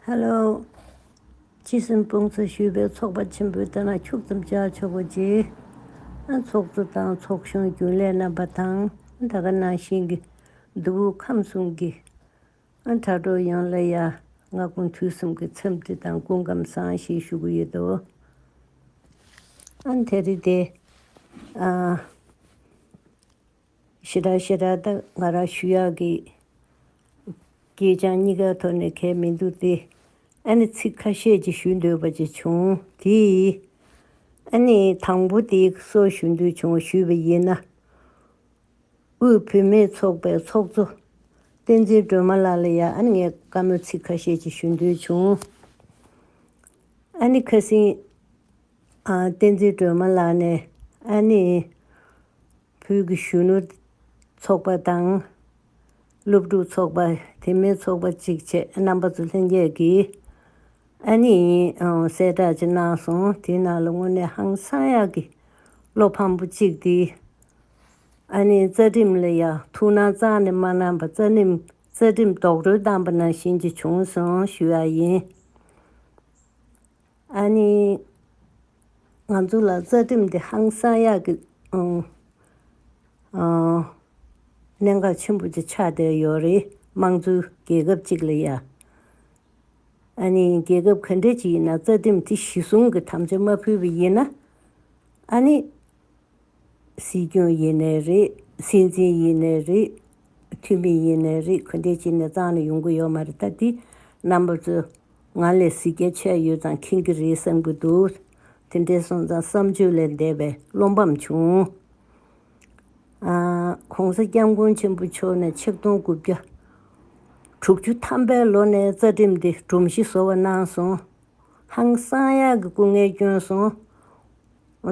ཧ་ལོ། ཁྱི་གསུམ་དཔུང་ཚོགས་ཞུས་པའི་ཚོགས་པ་ཆེན་པོའི་ལྟ་ན་ཁྱུག་ཙམ་བཅག་ཆོག་གོ་ཅི། ཨ་ཚོགས་གཙོ་དང་ཚོགས་གཞོན་རྒྱུན་ལས་རྣམ་པ་དང་ད་ག་ནང་བཞིན་གྱི་གདུ་བུ་ཁམས་གསུམ་གྱི་ཨ་དྲ་གྲོགས་ཡོངས་ལ་ཡ་ང་དགུང་དུས་གསུམ་གྱི་འཚམས་འདྲི་དང་སྐུ་ཁམས་བཟང་ཞེས་ཞུ་གི་ཡོད་དོ། ཨ་དྷེ་རི་ཏེ། ཨ། ཕྱི་དྲག་ཤེས་དྲག་དང་ང་རང་ཞུ་ཡག་གི། སྐད་ཆའང་གཉིས་ཀའི་ཐོག་ནས་གལ་མི་འདུག་སྟེ། ཨ་ནི་ཚིག་ཁ་ཤས་ཅིག་ཞུ་འདོད་པ་ཅིག་བྱུང་དེ། ཨ་ནི་དང་པོ་དེ་སོགས་ཞུ་འདོད་བྱུང་ཞུས་པ་ཡིན་ན། དབུས་བུད་མེད་ཚོགས་པའི་ཚོགས་གཙོ་བསྟན་འཛིན་སྒྲོལ་མ་ལགས་ལ་ཡང་ཨ་ནི་ངས་བཀའ་མོལ་ཚིག་ཁ་ཤས་ཅིག་ཞུ་འདོད་བྱུང། ཨ་ནི་ཁ་སིང། བསྟན་འཛིན་སྒྲོལ་མ་ལགས་ནས་ཨ་ནི། ཁུལ་གྱི་གཞོན་ནུ་ཚོགས་པ་དང། སློབ་ཕྲུག་ཚོགས་པ་དེ་མིན་ཚོགས་པ་གཅིག་བཅས་རྣམ་པ་ཚོ་ལྷན་རྒྱས་ཀྱིས་ཨ་ནེ་ཡིན་གསལ་བསྒྲགས་ཅིག་གནང་སོང་དེའི་ནང་ལ་དངོས་གནས་ཧང་སང་ཡག་གི་བློ་ཕམ་པོ་གཅིག་དེ་ཨ་ནེའི་རྩ་ཁྲིམས་ལ་ཡང་ཐུགས་སྣང་གཙང་ནས་མ་གནང་པར་རྩ་ཁྲིམས་རྡོག་རོལ་བཏང་པ་ནང་བཞིན་གྱི་བྱུང་སོང་ཞུས་ཡ་ཡིན། ཨ་ནི། ང་ཚོ་ལ་རྩ་ཁྲིམས་འདི་ཧང་སང་ཡག་གི་གནད་འགག་ཆེན་པོ་ཅིག་ཆགས་བསྡད་ཡོད་རེད་དམངས་གཙོའི་རྒྱལ་ཁབ་ཅིག་ལ་ཡ། ཨ་ནི་རྒྱལ་ཁབ་ག་འདྲ་ཅིག་ཡིན་ན་རྩ་ཁྲིམས་དེ་གཞི་བཟུང་གི་དམ་བཅའ་མ་ཕུལ་བ་ཡིན་ན་ཨ་ནི། སྲིད་སྐྱོང་ཡིན་ནའི་རེད་སྲིད་འཛིན་ཡིན་ནའི་རེད་འཐུས་མི་ཡིན་ནའི་རེད་གུ་འདེད་བྱེད་ནས་གཙང་ལ་ཡོང་གི་ཡོད་མ་རེད་ད་འདི་རྣམ་པ་ཚོས་ང་ལས་གཟི་རྒྱ་ཆེ་ཡོད་ཙང་མཁྱེན་གི་རེད་བསམ་གི་འདུག་དེ་འདྲའི་སོང་ཙང་བསམ་ཆོས་ལས་འདས་པའི་བློ་འབམ་བྱུང། ྋགོང་ས ྋསྐྱབས་མགོན་ཆེན་པོ་མཆོག་ནས་ཆིག་སྟོང་དགུ་བརྒྱ་དྲུག་ཅུ་ཐམ་པའི་ལོ་ནས་རྩ་ཁྲིམས་འདི་སྒྲོམ་གཞི་བཟོ་བ་གནང་སོང་ཧང་སང་ཡག་གི་སྐུ་ངལ་བསྐྱོན་སོང།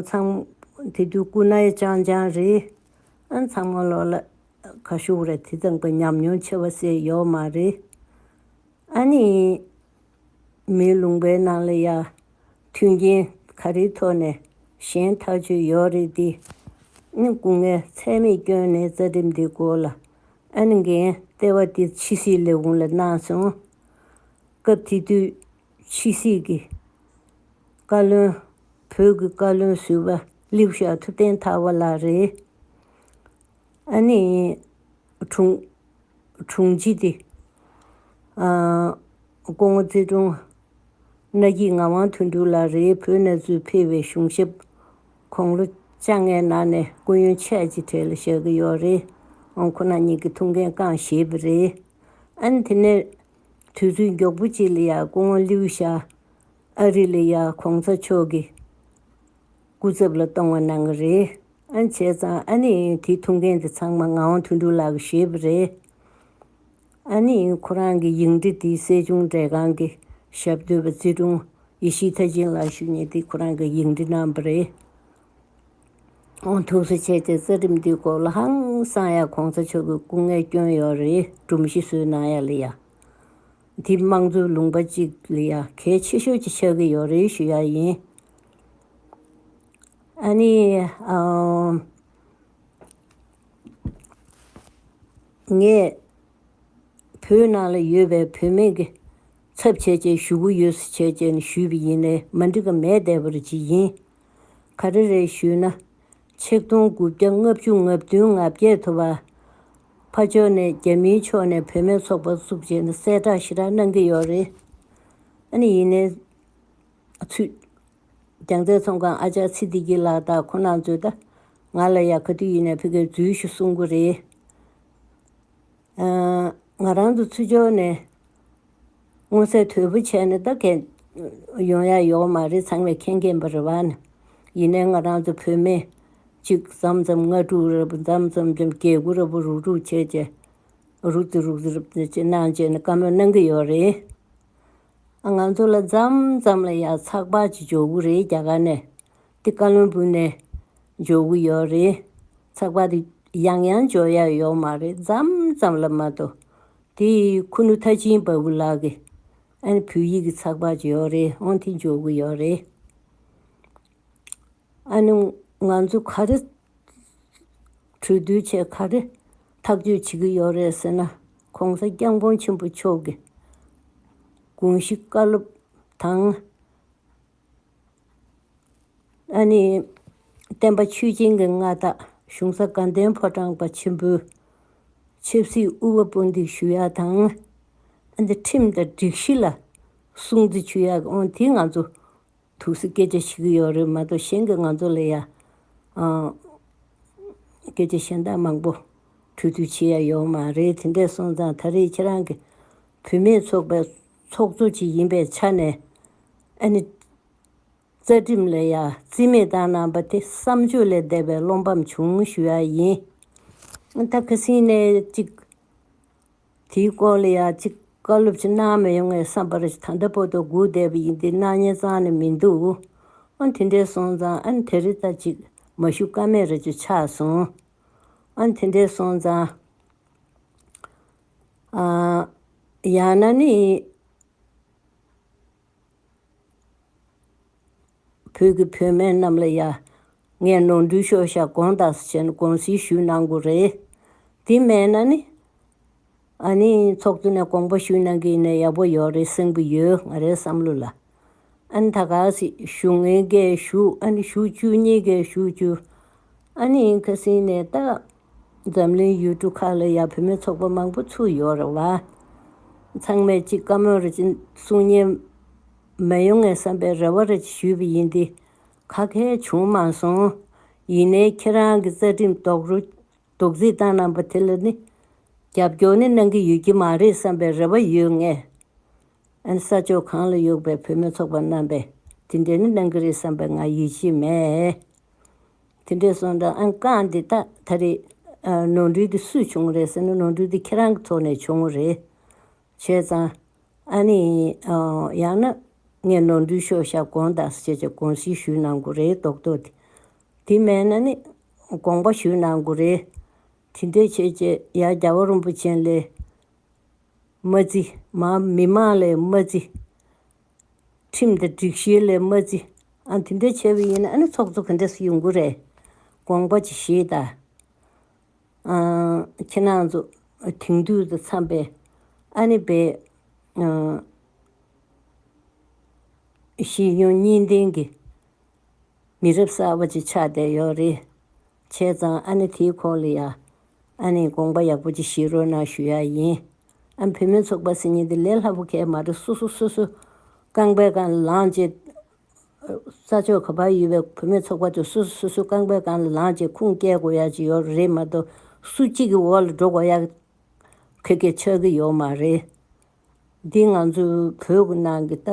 ཚངས་མོ་དེ་དུས་སྐུ་ན་ཡ་ཅང་ཅང་རེད། ཚངས་མོ་ལོག་ལ་ཁ་ཤོག་རེད་དེ་ཙམ་གྱི་ཉམས་མྱོང་ཆེ་བ་ཟེར་ཡོད་མ་རེད། ཨ་ནི། མིའི་ལུང་པའི་ནང་ལ་ཡང་མཐུན་རྐྱེན་ག་རེའི་ཐོག་ནས་ཞེན་ཐག་ཆོད་ཡོད་རེད་དེ། ཨ་ནི་སྐུ་ངལ་ཚད་མེད་བསྐྱོན་ནས་རྩ་ཁྲིམས་འདི་སྐོར་ལ་ཨ་ནི་འགན་ལྟེ་བ་དེ་ཕྱི་སྲིད་ལས་ཁུངས་ལ་གནང་སོང། སྐབས་དེ་དུས་ཕྱི་སྲིད་ཀྱི་བཀའ་བློན། བོད་ཀྱི་བཀའ་བློན་ཟུར་པ་ལིའུ་ཞའོ་ཐུ་བསྟེན་ཐར་བ་ལགས་རེད། ཨ་ནི་དྲུང། དྲུང་ཆེ་སྟེ། ཀོང་ངོ་ཙེ་ཀྲུང། གནའ་སྐྱིད་ངག་དབང་དོན་གྲུབ་ལགས་རེད་བོད་གནས་ཚུལ་ཕེ་བའི་གཞུང་ཞབས་ཁོང་ལོ་བཅྭ་ལྔའི་ནང་ནས་སྐུ་ཡོན་ཆད་ཅི་ཐད་ལ་བཞག་གི་ཡོག་རེད་ཨང་ཁོ་ན་ཉིད་ཀྱི་ཐུགས་འགན་རྐང་བཞེས་པ་རེད་ཨན་དེ་ནས་དུས་ཚོད་མགྱོགས་པོ་གཅིག་ལ་ཡ་སྐུ་ངོ་ལིའུ་ཤ་ཨ་རི་ལ་ཡ་གོང་ཚ་མཆོག་གི་སྐུ་ཚབ་ལ་གཏོང་བ་གནང་གི་རེད། ཨ་བྱས་ཙང་ཨ་ནི་དེ་ཐུག་མཁན་དེ་ཚང་མ་ང་ཝང་ཐུན་ཀྲུའུ་ལགས་གིས་བཞེས་པ་རེད། ཨ་ནི་ཁོ་རང་གི་ཡིག་འབྲི་དེ་སྲིད་སྐྱོང་མཛད་ཁང་གི་ཞབས་བསྟོད་པ་ཙི་ཀྲུང་ཡེ་ཤིས་ཐ་ཅིན་ལགས་ཞུ་ཉེ་དེ་ཁོ་རང་གིས་ཡིག་འབྲི་གནང་པ་རེད། ཐུགས་གསོ་བྱས་ཏེ་རྩ་ཁྲིམས་འདི་གོ་ལ་ཧང་སང་ཡ་གོང་ས་མཆོག་གི་སྐུ་ངལ་སྐྱོན་ཡོད་རེད་སྒྲོམ་གཞི་བཟོས་གནང་ཡ་ལི་ཡ། འདི་དམངས་གཙོའི་ལུང་པ་གཅིག་ལི་ཡ་གལ་ཆེ་ཤོས་ཀྱི་ཆགས་ཀྱི་ཡོད་རེད་ཞུ་ཡ་ཡིན། ཨ་ནི། ངས། བོད་ནང་ལ་ཡོད་པའི་བོད་མི་གི་ཚབ་བྱས་རྗེས་ཞུ་གུ་ཡོད་སུ་བྱས་རྗེས་ནི་ཞུས་པ་ཡིན་ནའི་མ་འགྲིག་ག་མེད་བསྡད་པ་རུ་ཅི་ཡིན། ག་རེ་རེ་ཞུས་ན། ཆིག་སྟོང་དགུ་བརྒྱ་ལྔ་བཅུ་ལྔ་བདུན་ང་བརྒྱད་ཐོབ་པ། ཕ་ཇོ་ནས་རྒྱ་མིའི་ཕྱོགས་ནས་བོད་སྨན་ཚོགས་པ་བཙུགས་རྗེས་ནས་གསལ་བསྒྲགས་ཞེ་དྲག་གནང་གི་ཡོད་རེད། ཨ་ནི་ཡིན་ནའི་ཚུད། རྒྱང་བསྟེན་ཚོང་ཁང་ཨ་ཅག་ཚེ་བདེ་གྱི་ལག་རྟགས་ཁོ་ན་མཛོད། ང་ལ་ཡང་ག་དུས་ཡིན་ནའི་ཕི་གའི་རྫུན་ཞུ་གསུང་གི་རེད། ང་རང་ཚོ་ཚུར་འབྱོར་ནས་མངོན་གསལ་དོད་པོ་བྱས་ནས་ད་གལ་ཡོང་ཡ་ཡོད་མ་རེད་ཚང་མས་མཁྱེན་གྱིན་པ་རེད་བ། ཡིན་ནའི་ང་རང་ཚོ་བོད་མི་གཅིག་ཙམ་ཙམ་ལྔ་དྲུག་རེད་བུ་ཙམ་ཙམ་ཙམ་རྒྱལ་སྒོ་རེད་བུ་རུག་རུག་བྱས་བྱས་རུག་རྩི་རུག་རྩི་རུག་རྩི་གནང་བྱས་ནས་བཀའ་མོལ་གནང་གི་ཡོད་རེད། ང་ཚོ་ལ་ཙམ་ཙམ་ལ་ཡ་ཚགས་པ་ཅིག་འཇོག་གི་རེད་རྒྱ་གར་ནས་འདི་བཀའ་བློན་བུ་ནས་འཇོག་གི་ཡོད་རེད། ཚགས་པར་དེ་ཡང་ཡང་འཇོག་ཡ་ཡོད་མ་རེད་ཙམ་ཙམ་ལ་མ་གཏོགས། དེ་ཁུ་ནུ་ཐ་ཆིན་བ་བུ་ལགས་ཀྱི་ཨ་ནི་བོད་ཡིག་གི་ཚགས་པར་ཅིག་ཡོད་རེད་འོང་དེ་འཇོག་གི་ཡོད་རེད། ཨ་ནི་ང་ཚོ་ག་རེ་གྲོས་བསྡུར་བྱས་ག་རེ་ཐག་གཅོད་བྱེད་ཀྱི་ཡོད་རེད་ཟེར་ན ྋགོང་ས ྋསྐྱབས་མགོན་ཆེན་པོ་མཆོག་གི་དགོངས་གཞི་བཀའ་སློབ་དང། བསྟན་པ་ཆོས་སྦྱིན་གྱི་མངའ་བདག་གཞུང་ས་དགའ་ལྡན་ཕོ་བྲང་པ་ཆེན་པོའི་ཆབ་སྲིད་དབུ་བ་པོ་འདི་ཞུ་ཡག་དང། ཁྲིམས་དང་སྒྲིག་གཞི་ལ་སྲུང་བརྩི་ཆུ་ཡག་གི་འོན་དེ་ང་ཚོ་ཐུགས་སུ་སྐད་ཆ་ཤི་གི་ཡོད་རེད་མ་གཏོགས་གཞན་གྱི་ང་ཚོ་ལ་ཡང་སྐད་ཆ་གཞན་དག་མང་པོ་འཕྲོད་ཚུལ་ཆེ་ཡག་ཡོད་མ་རེད་དེ་འདྲས་སོང་ཙང་ད་རེས་ཁྱེད་རང་གི་བུད་མེད་ཚོགས་པའི་ཚོགས་གཙོ་ཞིག་ཡིན་པའི་ཆ་ནས། ཨ་ནི། རྩ་ཁྲིམས་ལ་ཡ་བརྩི་མེད་བཏང་གནང་པ་དེ་བསམ་བརྗོད་ལས་འདས་པའི་བློ་ཕམ་བྱུང་ཞུ་ཡ་ཡིན། ད་ཁ་སིང་ནས་ཅིག། དེའི་སྐོར་ལ་ཡ་ཅིག་བཀའ་སློབ་ཅིག་གནང་མི་ཡོང་ངའི་བསམ་པར་ད་ལྟ་བོ་དོ་སྒུག་བསྡད་པ་ཡིན་ཏེ་སྣང་བརྙན་གཙང་ནས་མི་འདུག། ཨ་དེ་འདྲའི་སོང་ཙང་ཨ་ནི་དེ་རི་ད་ཅིག་མ་ཞུ་ཀ་མེད་ར་ཅིག་ཆགས་སོང། ཨ་དེ་འདྲའི་སོང་ཙང། ཡང་ན་ནི། བོད་ཀྱི་བུད་མེད་རྣམས་ལ་ཡང་ངས་ནོར་འཁྲུལ་ཤོར་ཤག་དགོངས་དག་བྱས་ནས་དགོངས་སེལ་ཞུས་གནང་དགོས་རེད། དེ་མེད་ན་ནི། ཨ་ནི་ཚོགས་གཙོ་ནས་དགོངས་པ་ཞུས་གནང་གིན་ནས་ཡག་པོ་ཡོད་རེད་གསུང་གི་ཡོད་ང་རའི་བསམ་བློ་ལ། ཨ་ནི་ད་ག་ཟིག་བཞུགས་ངེས་འགས་བཞུགས་ཨ་ནི་བཞུགས་བཅུ་གཉིས་འགས་བཞུགས་བཅུ། ཨ་ནི་ཁ་སིང་ནས་ལྟ། འཛམ་གླིང་ཡུལ་གྲུ་ཁག་ལ་ཡང་བུད་མེད་ཚོགས་པ་མང་པོ་ཚུགས་ཡོད་རེད་བ། ཚང་མས་གཅིག་བཀའ་མོལ་རེ་གསུང་ཉན་མི་ཡོང་ངེས་བསམ་པའི་རེ་བ་རེ་ཞུས་པ་ཡིན་ཏེ། ཁ་མཁས་བྱུང་མ་སོང། ཡིན་ནའི་ཁྱེད་རང་གི་རྩ་ཁྲིམས་རྡོག་རོལ་རྡོག་རྫིས་བཏང་གནང་པ་དེ་ལ་ནི་རྒྱབ་སྐྱོར་ནི་གནང་གི་ཡོད་ཀྱི་མ་རེད་བསམ་པའི་རེ་བ་ཡོད་ངེས། ཨན་ས་ཕྱོགས་གང་ལ་ཡོད་པའི་བུད་མེད་ཚོགས་པ་རྣམ་པས་དེ་འདྲའི་ནི་གནང་གི་རེད་བསམ་པའི་ང་ཡིད་ཆེས་མེད། དེ་འདྲའི་སོང་འདྲ་ཨང་རྐང་འདི་དག་ད་རེས་ནོར་འཁྲུལ་དེ་སུས་བྱུང་རེད་ཟེར་ན་ནོར་འཁྲུལ་དེ་ཁྱེད་རང་གི་ཐོག་ནས་བྱུང་ངོ་རེད། བྱས་ཙང། ཨ་ནི། ཡང་ན། ངས་ནོར་འཁྲུལ་ཤོག་བཞག་དགོངས་དག་སེ་བྱས་བྱས་དགོངས་སེལ་ཞུས་གནང་དགོས་རེད་རྡོག་རྡོག་དེ། དེ་མེད་ན་ནི། དགོངས་པ་ཞུས་གནང་དགོས་རེད། དེ་འདྲས་བྱས་བྱས་ཡ་རྒྱ་བ་རོན་པོ་ཆེན་ལས། མ་རྩི། མ་མི་མང་ལས་མ་རྩི། ཁྲིམས་དང་སྒྲིག་གཞི་ལས་མ་བརྩི། ཨ་དེ་འདྲ་བྱས་པ་ཡིན་ན་ཨ་ནི་ཚོགས་གཙོ་ག་འདྲ་སུ་ཡོང་གི་རེད། དགོངས་པ་ཅི་ཞེས་དང། ཁྱེད་རང་ཚོ་དེང་དུས་དང་འཚམས་པའི་ཨ་ནི་བའི། ཤེས་ཡོན་གཉིས་ལྡན་གྱི་མི་རབས་གསར་པ་ཅིག་ཆགས་བསྡད་ཡོད་རེད། བྱས་ཙང་ཨ་ནི་དེའི་ཁོག་ལ་ཡ། ཨ་ནི་དགོངས་པ་ཡག་པོ་ཅིག་བཞེས་རོགས་གནང་ཞུ་ཡག་ཡིན། ཨ་བུད་མེད་ཚོགས་པ་སེ་ཉིན་དེ་ལས་ལྷ་བུ་ཁའི་མ་གྲོ་སོ་སོ་སོ་སོའི་རྐང་པའི་རྐང་ལ་ལངས་རྗེས། ས་ཕྱོགས་ག་པར་ཡོད་པའི་བུད་མེད་ཚོགས་པ་ཚོ་སོ་སོ་སོ་སོའི་རྐང་པའི་རྐང་ལ་ལངས་རྗེས་ཁུངས་སྐྱེལ་དགོས་ཡག་ཅིག་ཡོད་རེད་མ་གཏོགས་སུ་གཅིག་གི་འོག་ལ་འགྲོ་དགོས་ཡག་ཁེ་ཁེ་ཆགས་ཀྱི་ཡོད་མ་རེད། འདི་ང་ཚོའི་བོད་ནང་གི་ལྟ་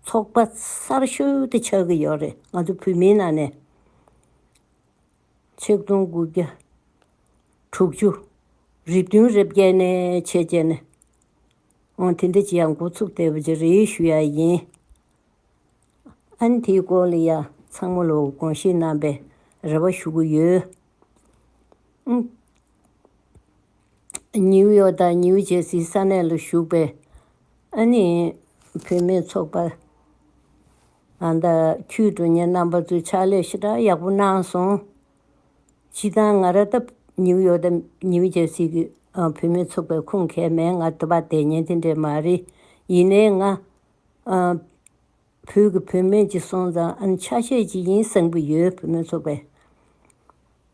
ཚོགས་པ་གསར་ཤོས་དེ་ཆགས་ཀྱི་ཡོད་རེད་ང་ཚོའི་བོད་མིའི་ནང་ནས། ཆིག་སྟོང་དགུ་བརྒྱ་དྲུག་ཅུ། རི་བདུན་རེ་བརྒྱད་ནས་ཕྱེད་བཅད་ནས། ཨང་དེ་འདི་ཅི་ཡང་འགོ་ཚུགས་བལྟས་པ་ཅི་རེད་ཞུ་ཡ་ཡིན། ཨང་དེའི་སྐོར་ལ་ཡང་ཚང་མ་ལོ་གོང་བཤད་གནང་པའི་རེ་བ་ཞུ་གི་ཡོད། ནིའུ་ཡོག་དང་ནིའུ་ཇེར་སི་ས་གནས་ལ་བཞུགས་པའི་ཨ་ནེ་བུད་མེད་ཚོགས་པ། ཨ་མདའ་ཁྱོད་དྲུང་གཉེར་རྣམ་པ་ཚོའི་ཕྱག་ལས་ཞེ་དྲག་ཡག་པོ་གནང་སོང། སྤྱི་སྟངས་ང་ར་ལྟ་བུ་ནིའུ་ཡོག་དང་ནིའུ་རྗེར་སི་གི་བུད་མེད་ཚོགས་པའི་ཁུངས་མཁས་མན་ངག་དེ་བ་དེ་ཉན་དེ་འདྲས་མ་རེད་ཡིན་ནའི་ང། བོད་ཀྱི་བུད་མེད་ཅིག་སོང་ཙང་ཨ་ནི་ཆ་ཤས་ཅིག་ཡིན་བསམ་གི་ཡོད་བུད་མེད་ཚོགས་པའི།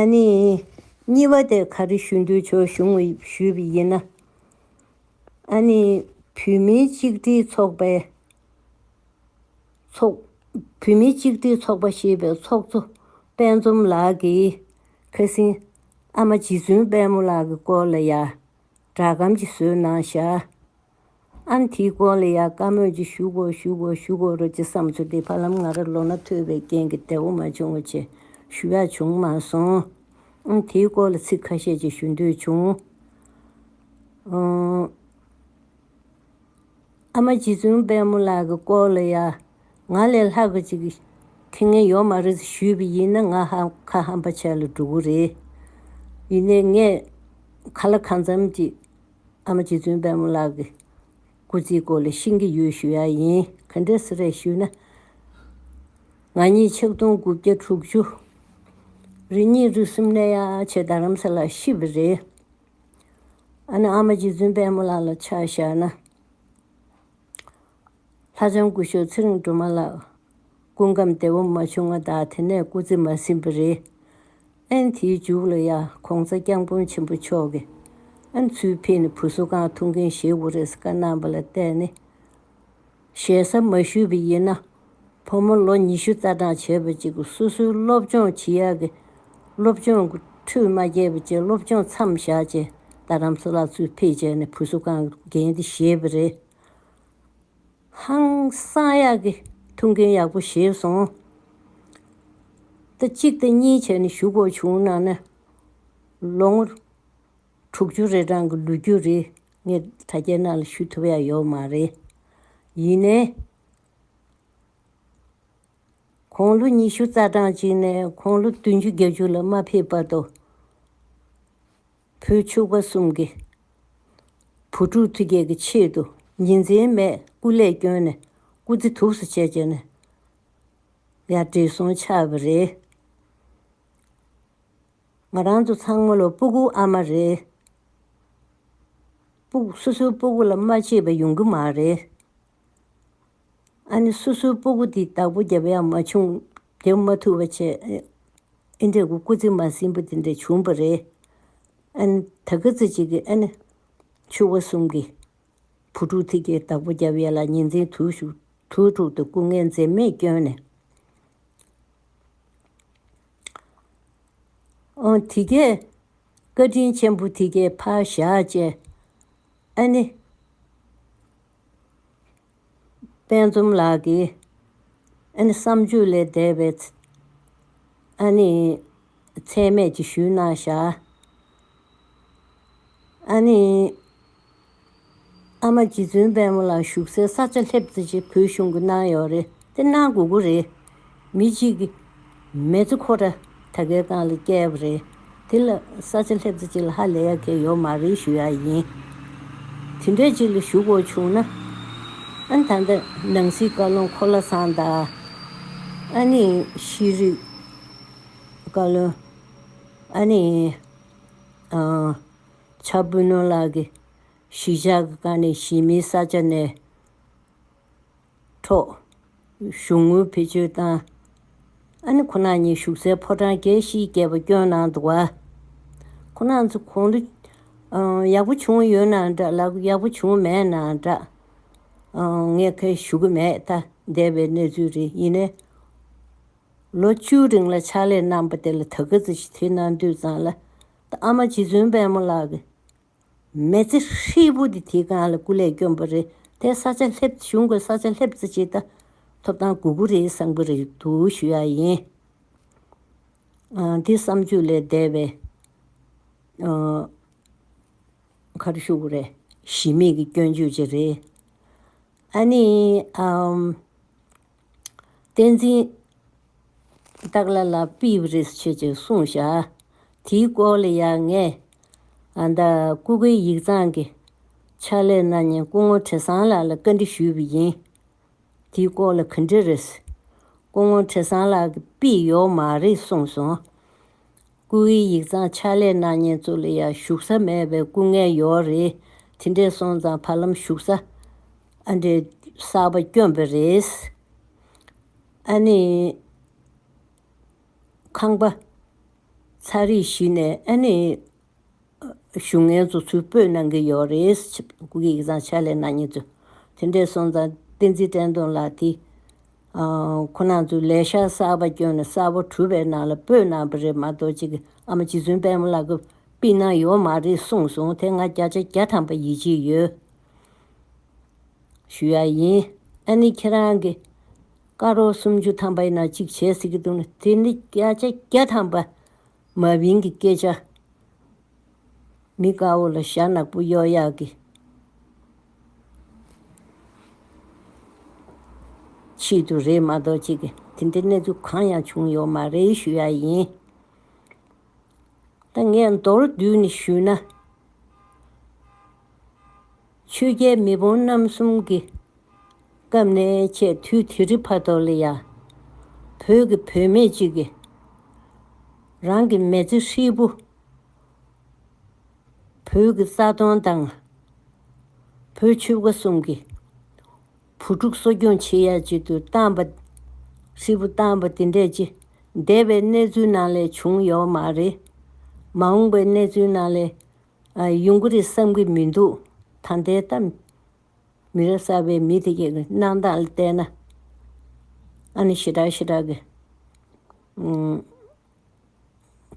ཨ་ནི། གཉིས་པ་དེར་ག་རེ་ཞུ་འདོད་ཆོག་གཞུང་ཞུས་པ་ཡིན་ན། ཨ་ནི། བུད་མེད་གཅིག་སྒྲིལ་ཚོགས་པའི། ཚོགས། བུད་མེད་གཅིག་སྒྲིལ་ཚོགས་པ་ཞེས་པའི་ཚོགས་གཙོ་དཔལ་འཛོམས་ལགས་ཀྱིས་ཁ་སིང་ཨ་མ་རྗེ་བཙུན་དཔལ་མོ་ལགས་ཀྱི་སྐོར་ལ་ཡང་སྦྲགས་གམ་ཅི་བཟོས་གནང་བཞག། ཨན་དྷིའི་གོ་ལ་ཡག་དཀའ་མོད་ཀྱི་ཞུ་གོ་ཞུ་གོ་ཞུ་གོ་རོ་ཅི་བསམ་ཚུལ་དེ་ཕ་ལམ་ང་ར་ལོ་ན་ཐོས་པའི་རྐྱེན་གྱི་དལ་བོ་མ་བྱུང་བ་ཆེ་ཞུ་ཡག་བྱུང་མ་སོང། ཨན་དྷིའི་སྐོར་ལ་ཚིག་ཁ་ཤས་ཅིག་ཞུ་འདོད་བྱུང། ཨ་མ་རྗེ་བཙུན་དཔལ་མོ་ལགས་ཀྱི་སྐོར་ལ་ཡ་ང་ལས་ལྷག་པ་ཅིག་ཐེ་ངན་ཡོད་མ་རེད་ཟེར་ཞུས་པ་ཡིན་ན་ང་ཧ་ཁ་ཧམ་པ་ཆགས་ལ་འགྲོ་གི་རེད། ཡིན་ནའི་ངས་ཁ་ལ་ཁ་མཚམས་ཀྱིས། ཨ་མ་རྗེ་བཙུན་དཔལ་མོ་ལགས་ཀྱི་སྐུ་ཚེའི་སྐོར་ལས་ཤིང་གི་ཡུལ་ཞུ་ཡ་ཡིན་ག་འདྲེ་སི་རས་ཞུས་ན། ང་གཉིས་ཆིག་སྟོང་དགུ་བརྒྱ་དྲུག་ཅུ། རི་གཉིས་རི་གསུམ་གནས་ཡ་ཆེ་རྡ་རམ་ས་ལ་ཤི་བ་རེད། ཨ་ན་ཨ་མ་རྗེ་བཙུན་དཔལ་མོ་ལགས་ལ་ཆ་བཞག་ན། ལྷ་བྱང་སྐུ་ཤོག་ཚེ་རིང་སྒྲོལ་མ་ལགས། སྐུ་ཁམས་བདེ་བོ་མ་བྱུང་ང་དག་དེ་ནས་སྐུ་ཚེ་མ་ཟིན་པ་རེད། ཨན་དེའི་མཇུག་ལ་ཡ་གོང་ཚ་རྐྱང་དཔོན་ཆེན་པོ་མཆོག་གིས་ཨན་ཚུལ་ཕེ་ནི་བུ་སོ་གང་ཐུག་མཁན་ཞེས་འུ་རེས་བཀའ་གནང་པ་ལ་བལྟས་ནས་ཞལ་ས་མ་ཞུས་པ་ཡིན་ན་བུ་མོ་ལོ་ཉི་ཤུ་རྩ་གྲངས་བྱས་པ་ཅིག་སོ་སོའི་སློབ་སྦྱོང་བྱེད་ཡག་གི་སློབ་སྦྱོང་གི་འཁྲུལ་མ་རྒྱས་པ་བཅས་སློབ་སྦྱོང་མཚམས་བཞག་བཅས་རྡ་རམ་ས་ལ་ཚུལ་ཕེ་བྱས་ནས་བུ་སོ་གང་འགན་དེ་བཞེས་པ་རེད། ཧང་སང་ཡག་གི་ཐུགས་འགན་ཡག་པོ་བཞེས་སོང། ཟླ་གཅིག་ཟླ་གཉིས་བྱས་ནས་ཞུ་དགོས་བྱུང་ན་ནི། ལོ་ངོ་དྲུག་ཅུ་རེ་གྲངས་ཀྱི་ལོ་རྒྱུས་རེ་ངས་དྲ་རྒྱའི་ནང་ལ་ཞུ་ཐུབ་ཡ་ཡོད་མ་རེད། ཡིན་ནའི། ཁོང་ལོ་ཉི་ཤུ་རྩ་གྲངས་ཅིག་ནས་ཁོང་ལོ་བདུན་ཅུ་བརྒྱད་ཅུ་ལ་མ་ཕེབས་བར་དུ། བུ་ཕྱུག་པ་གསུམ་གྱི་བུ་ཕྲུག་ཐུགས་བསྐྱེད་ཀྱི་ཆེད་དུ་ཉིན་མཚན་མས་སྐུ་ལས་བསྐྱོན་ནས་སྐུ་ཚེ་དུགས་སུ་བྱས་བྱས་ནས་ཡར་དྲིལ་སོང་ཆ་བ་རེད། ང་རང་ཚོ་ཚང་མ་ལ་སྤུ་སྐུ་ཨ་མ་རེད། སྤུ་སོ་སོའི་སྤུ་སྐུ་ལ་མ་མཆིས་པ་ཡོང་གི་མ་རེད། ཨ་ནི་སོ་སོའི་སྤོ་སྒོ་དེའི་བདག་པོ་བརྒྱབ་པ་ཡང་མ་བྱུང། བརྒྱབ་མ་ཐུབ་པ་བྱས། ཨི་འདྲའི་སྐུ་ཚེ་མ་ཟིན་པ་དེ་འདྲ་བྱུང་བ་རེད། ཨ་ནི་ད་སྐ་ཚ་གཅིག་གིས་ཨ་ནི། ཕྱུ་བ་གསུམ་གྱི། བུ་ཕྲུག་ཐིག་གེའི་བདག་པོ་བརྒྱབ་ཡས་ལ་ཉིན་མཚན་དུས་ཞུགས་དུས་དྲུག་ཏུ་སྐུ་ངལ་འཛེམ་མེད་བསྐྱོན་ནས། ཨོང་ཐིག་གེ། བཀའ་དྲིན་ཆེན་པོ་ཐིག་གེ་ཕ་བཞག་ཅེས། ཨ་ནི། དཔལ་འཛོམས་ལགས་ཀྱིས་ཨ་ནི་བསམ་བརྗོད་ལས་འདས་པའི་ཨ་ནི་ཚད་མེད་ཀྱི་ཞུས་གནང་བཞག་ཨ་ནི་ཨ་མ་རྗེ་བཙུན་དཔལ་མོ་ལགས་བཞུགས་སའི་ས་ཆ་སླེབས་ཚེ་ཅིག་བོད་གཞུང་གི་གནང་ཡོག་རེད་དེ་གནང་དགོས་དགོས་རེད། མི་གཅིག་གིས་མེ་ལྕེ་ཁོ་ཁྲ་ད་གའི་སྒང་ལ་བསྐྱལ་བ་རེད། དེ་ལ་ས་ཆ་སླེབས་ཚེ་ཅིག་ལ་ཧ་ལས་ཡག་གི་ཡོད་མ་རེད་ཞུ་ཡག་ཡིན། དེ་འདྲའི་ཅིག་ལ་ཞུ་དགོས་བྱུང་ན། ཨ་ན་ད་ལྟ་ནང་སྲིད་བཀའ་བློན་ཁོ་ལ་སང་ད་ཨ་ནི་ཤེས་རིག་བཀའ་བློན་ཨ་ནི་ཆ་དཔོན་ནོ་ལགས་ཀྱི་གཞིས་ཆགས་ཀྱི་སྒང་ནས་གཞིས་མིའི་ས་ཆ་ནས། འཕྲོག། གཞུང་དངུལ་བེད་སྤྱོད་བཏང། ཨ་ནེ་ཁོ་ན་ཉིད་བཞུགས་སའི་ཕོ་བྲང་རྒྱལ་བཞིའི་རྒྱལ་པོ་སྐྱོན་ནང་དུ་བ། ཁོ་ན་ཚོ་གོང་དུ། ཡག་པོ་བྱུང་ཡོད་ན་འདྲ་ལགས་ཡག་པོ་བྱུང་མེད་ན་འདྲ། ངས་ཁ་ཞུ་གི་མེད་ཐ་དད་པའི་གནས་ཚུལ་རེད་ཡིན་ནའི། ལོ་བཅུའི་རིང་ལ་ཕྱག་ལས་གནང་པ་དེ་ལ་ད་གི་ཚེ་ཞི་མཐུན་གནང་དུས་ཙང་ལ། ཨ་མ་རྗེ་བཙུན་དཔལ་མོ་ལགས་ཀྱི། མེ་ལྕེ་ཧྲིལ་པོ་དེ་དེའི་སྒང་ལ་སྐུ་ལས་བསྐྱོན་པ་རེད་དེ་ས་ཆ་ལྷེབ་གཞུང་གི་ས་ཆ་ལྷེབ་རྩེ་ཆེ་ད་ཐོབ་ཐང་དགུ་དགུ་རེའི་གསང་པོ་རེ་འདུག་ཞུ་ཡག་ཡིན། འདི་བསམ་བརྗོད་ལས་འདས་པའི་ཁར་ཤུགས་རེ་གཞི་མེད་ཀྱི་སྐྱོན་བརྗོད་ཅིག་རེད། ཨ་ནི། བསྟན་འཛིན། སྟག་ལ་ལ་པིས་རིས་ཆོས་ཀྱི་གསུང་བྱ། དེའི་སྐོར་ལ་ཡང་ངས་འདི་སྐུ་སྒེར་ཡིག་ཚང་གི་ཕྱག་ལས་གནང་ཉིན་སྐུ་ངོ་དྲི་བཟང་ལགས་ལ་བཀའ་འདྲི་ཞུས་པ་ཡིན། དེའི་སྐོར་ལ་གུས་འདྲི་རེད། སྐུ་ངོ་དྲི་བཟང་ལགས་ཀྱིས་པིས་ཡོག་མ་རེད་གསུངས་སོང། སྐུ་ཨི་ཡིག་ཚང་ཕྱག་ལས་གནང་ཉེན་གཙོ་ལ་ཡང་ཞུགས་ས་མེད་པའི་སྐུ་ངལ་ཡོད་རེད། དེ་འདྲས་སོང་ཙང་བར་ལམ་ཞུགས་ས་ཨ་འདྲས་གསར་པ་བསྐྱོན་པས་རེད། ཨ་ནི། ཁང་པ། ཚ་རིགས་གཞི་ནས་ཨ་ནི། གཞུང་ངལ་རྩོལ་ཚུར་སྤོས་གནང་གི་ཡོད་རེད། སྐུ་སྒེར་ཡིག་ཚང་ཕྱག་ལས་གནང་མྱོང་ཚུལ། དེ་འདྲའི་སོང་ཙང་བསྟན་འཛིན་བཀྲས་མཐོང་ལགས་ཀྱིས། ཁོ་ནང་ཚོས་ལས་ཤག་གསར་པ་བསྐྱོན་ནས་གསར་བ་གྲུབ་པའི་ནང་ལ་སྤོས་གནང་བ་རེད་མ་གཏོགས་གཅིག་གི་ཨ་མ་རྗེ་བཙུན་དཔལ་མོ་ལགས་ཀྱིས་སྤིས་གནང་ཡོད་མ་རེད་གསུངས་སོང་དེ་ང་བརྒྱ་ཆ་བརྒྱ་ཐམ་པ་ཡིད་ཆེས་ཡོད། ཞུ་ཡ་ཡིན། ཨ་ནི་ཁྱེད་རང་གི་ཀ་རོགས་སུམ་ཅུ་ཐམ་པའི་ནང་གཅིག་བྱས་ཟེར་གྱི་འདུག་ན་དེ་ནི་བརྒྱ་ཆ་བརྒྱ་ཐམ་པ་མ་བིང་གི་སྐད་ཆ། མི་དགའ་བོ་ལ་ཞྭ་ནག་པོ་གཡོག་ཡག་གི། ཆེད་དུ་རེད་མ་གཏོགས་ཅིག་གི་དེ་འདྲའི་གནས་ཚུལ་གང་ཡང་བྱུང་ཡོག་མ་རེད་ཞུ་ཡག་ཡིན། ད་ངས་མདོར་བསྡུས་ནས་ཞུས་ན། ཆོས་རྒྱལ་མི་བོང་རྣམ་གསུམ་གྱི། སྐབས་ནས་ཆད་དུས་དྷི་རི་བྷ་དོ་ལི་ཡཱ། བོད་ཀྱི་བུད་མེད་ཅིག་གིས། རང་གི་མེ་ལྕེ་ཧྲིལ་པོ། བོད་ཀྱི་རྩ་སྟོང་དང། བོད་ཆོལ་ཁ་གསུམ་གྱི། བུ་ཕྲུག་གསོ་སྐྱོང་བྱེད་ཡ་བྱེད་དུ་བཏང་པ། ཧྲིལ་པོ་བཏང་པ་དེ་འདྲས་ཅི་འདས་པའི་གནས་ཚུལ་ནང་ལས་བྱུང་ཡོག་མ་རེད། མ་འོངས་པའི་གནས་ཚུལ་ནང་ལས་ཡོང་གི་རེད་བསམ་གི་མི་འདུག་ད་ལྟའི་གཏམ། མི་རབས་གསར་པའི་མི་དེ་གའི་གནང་སྟངས་བལྟས་ན། ཨ་ནི་ཞི་དྲག་ཞི་དྲག་གི།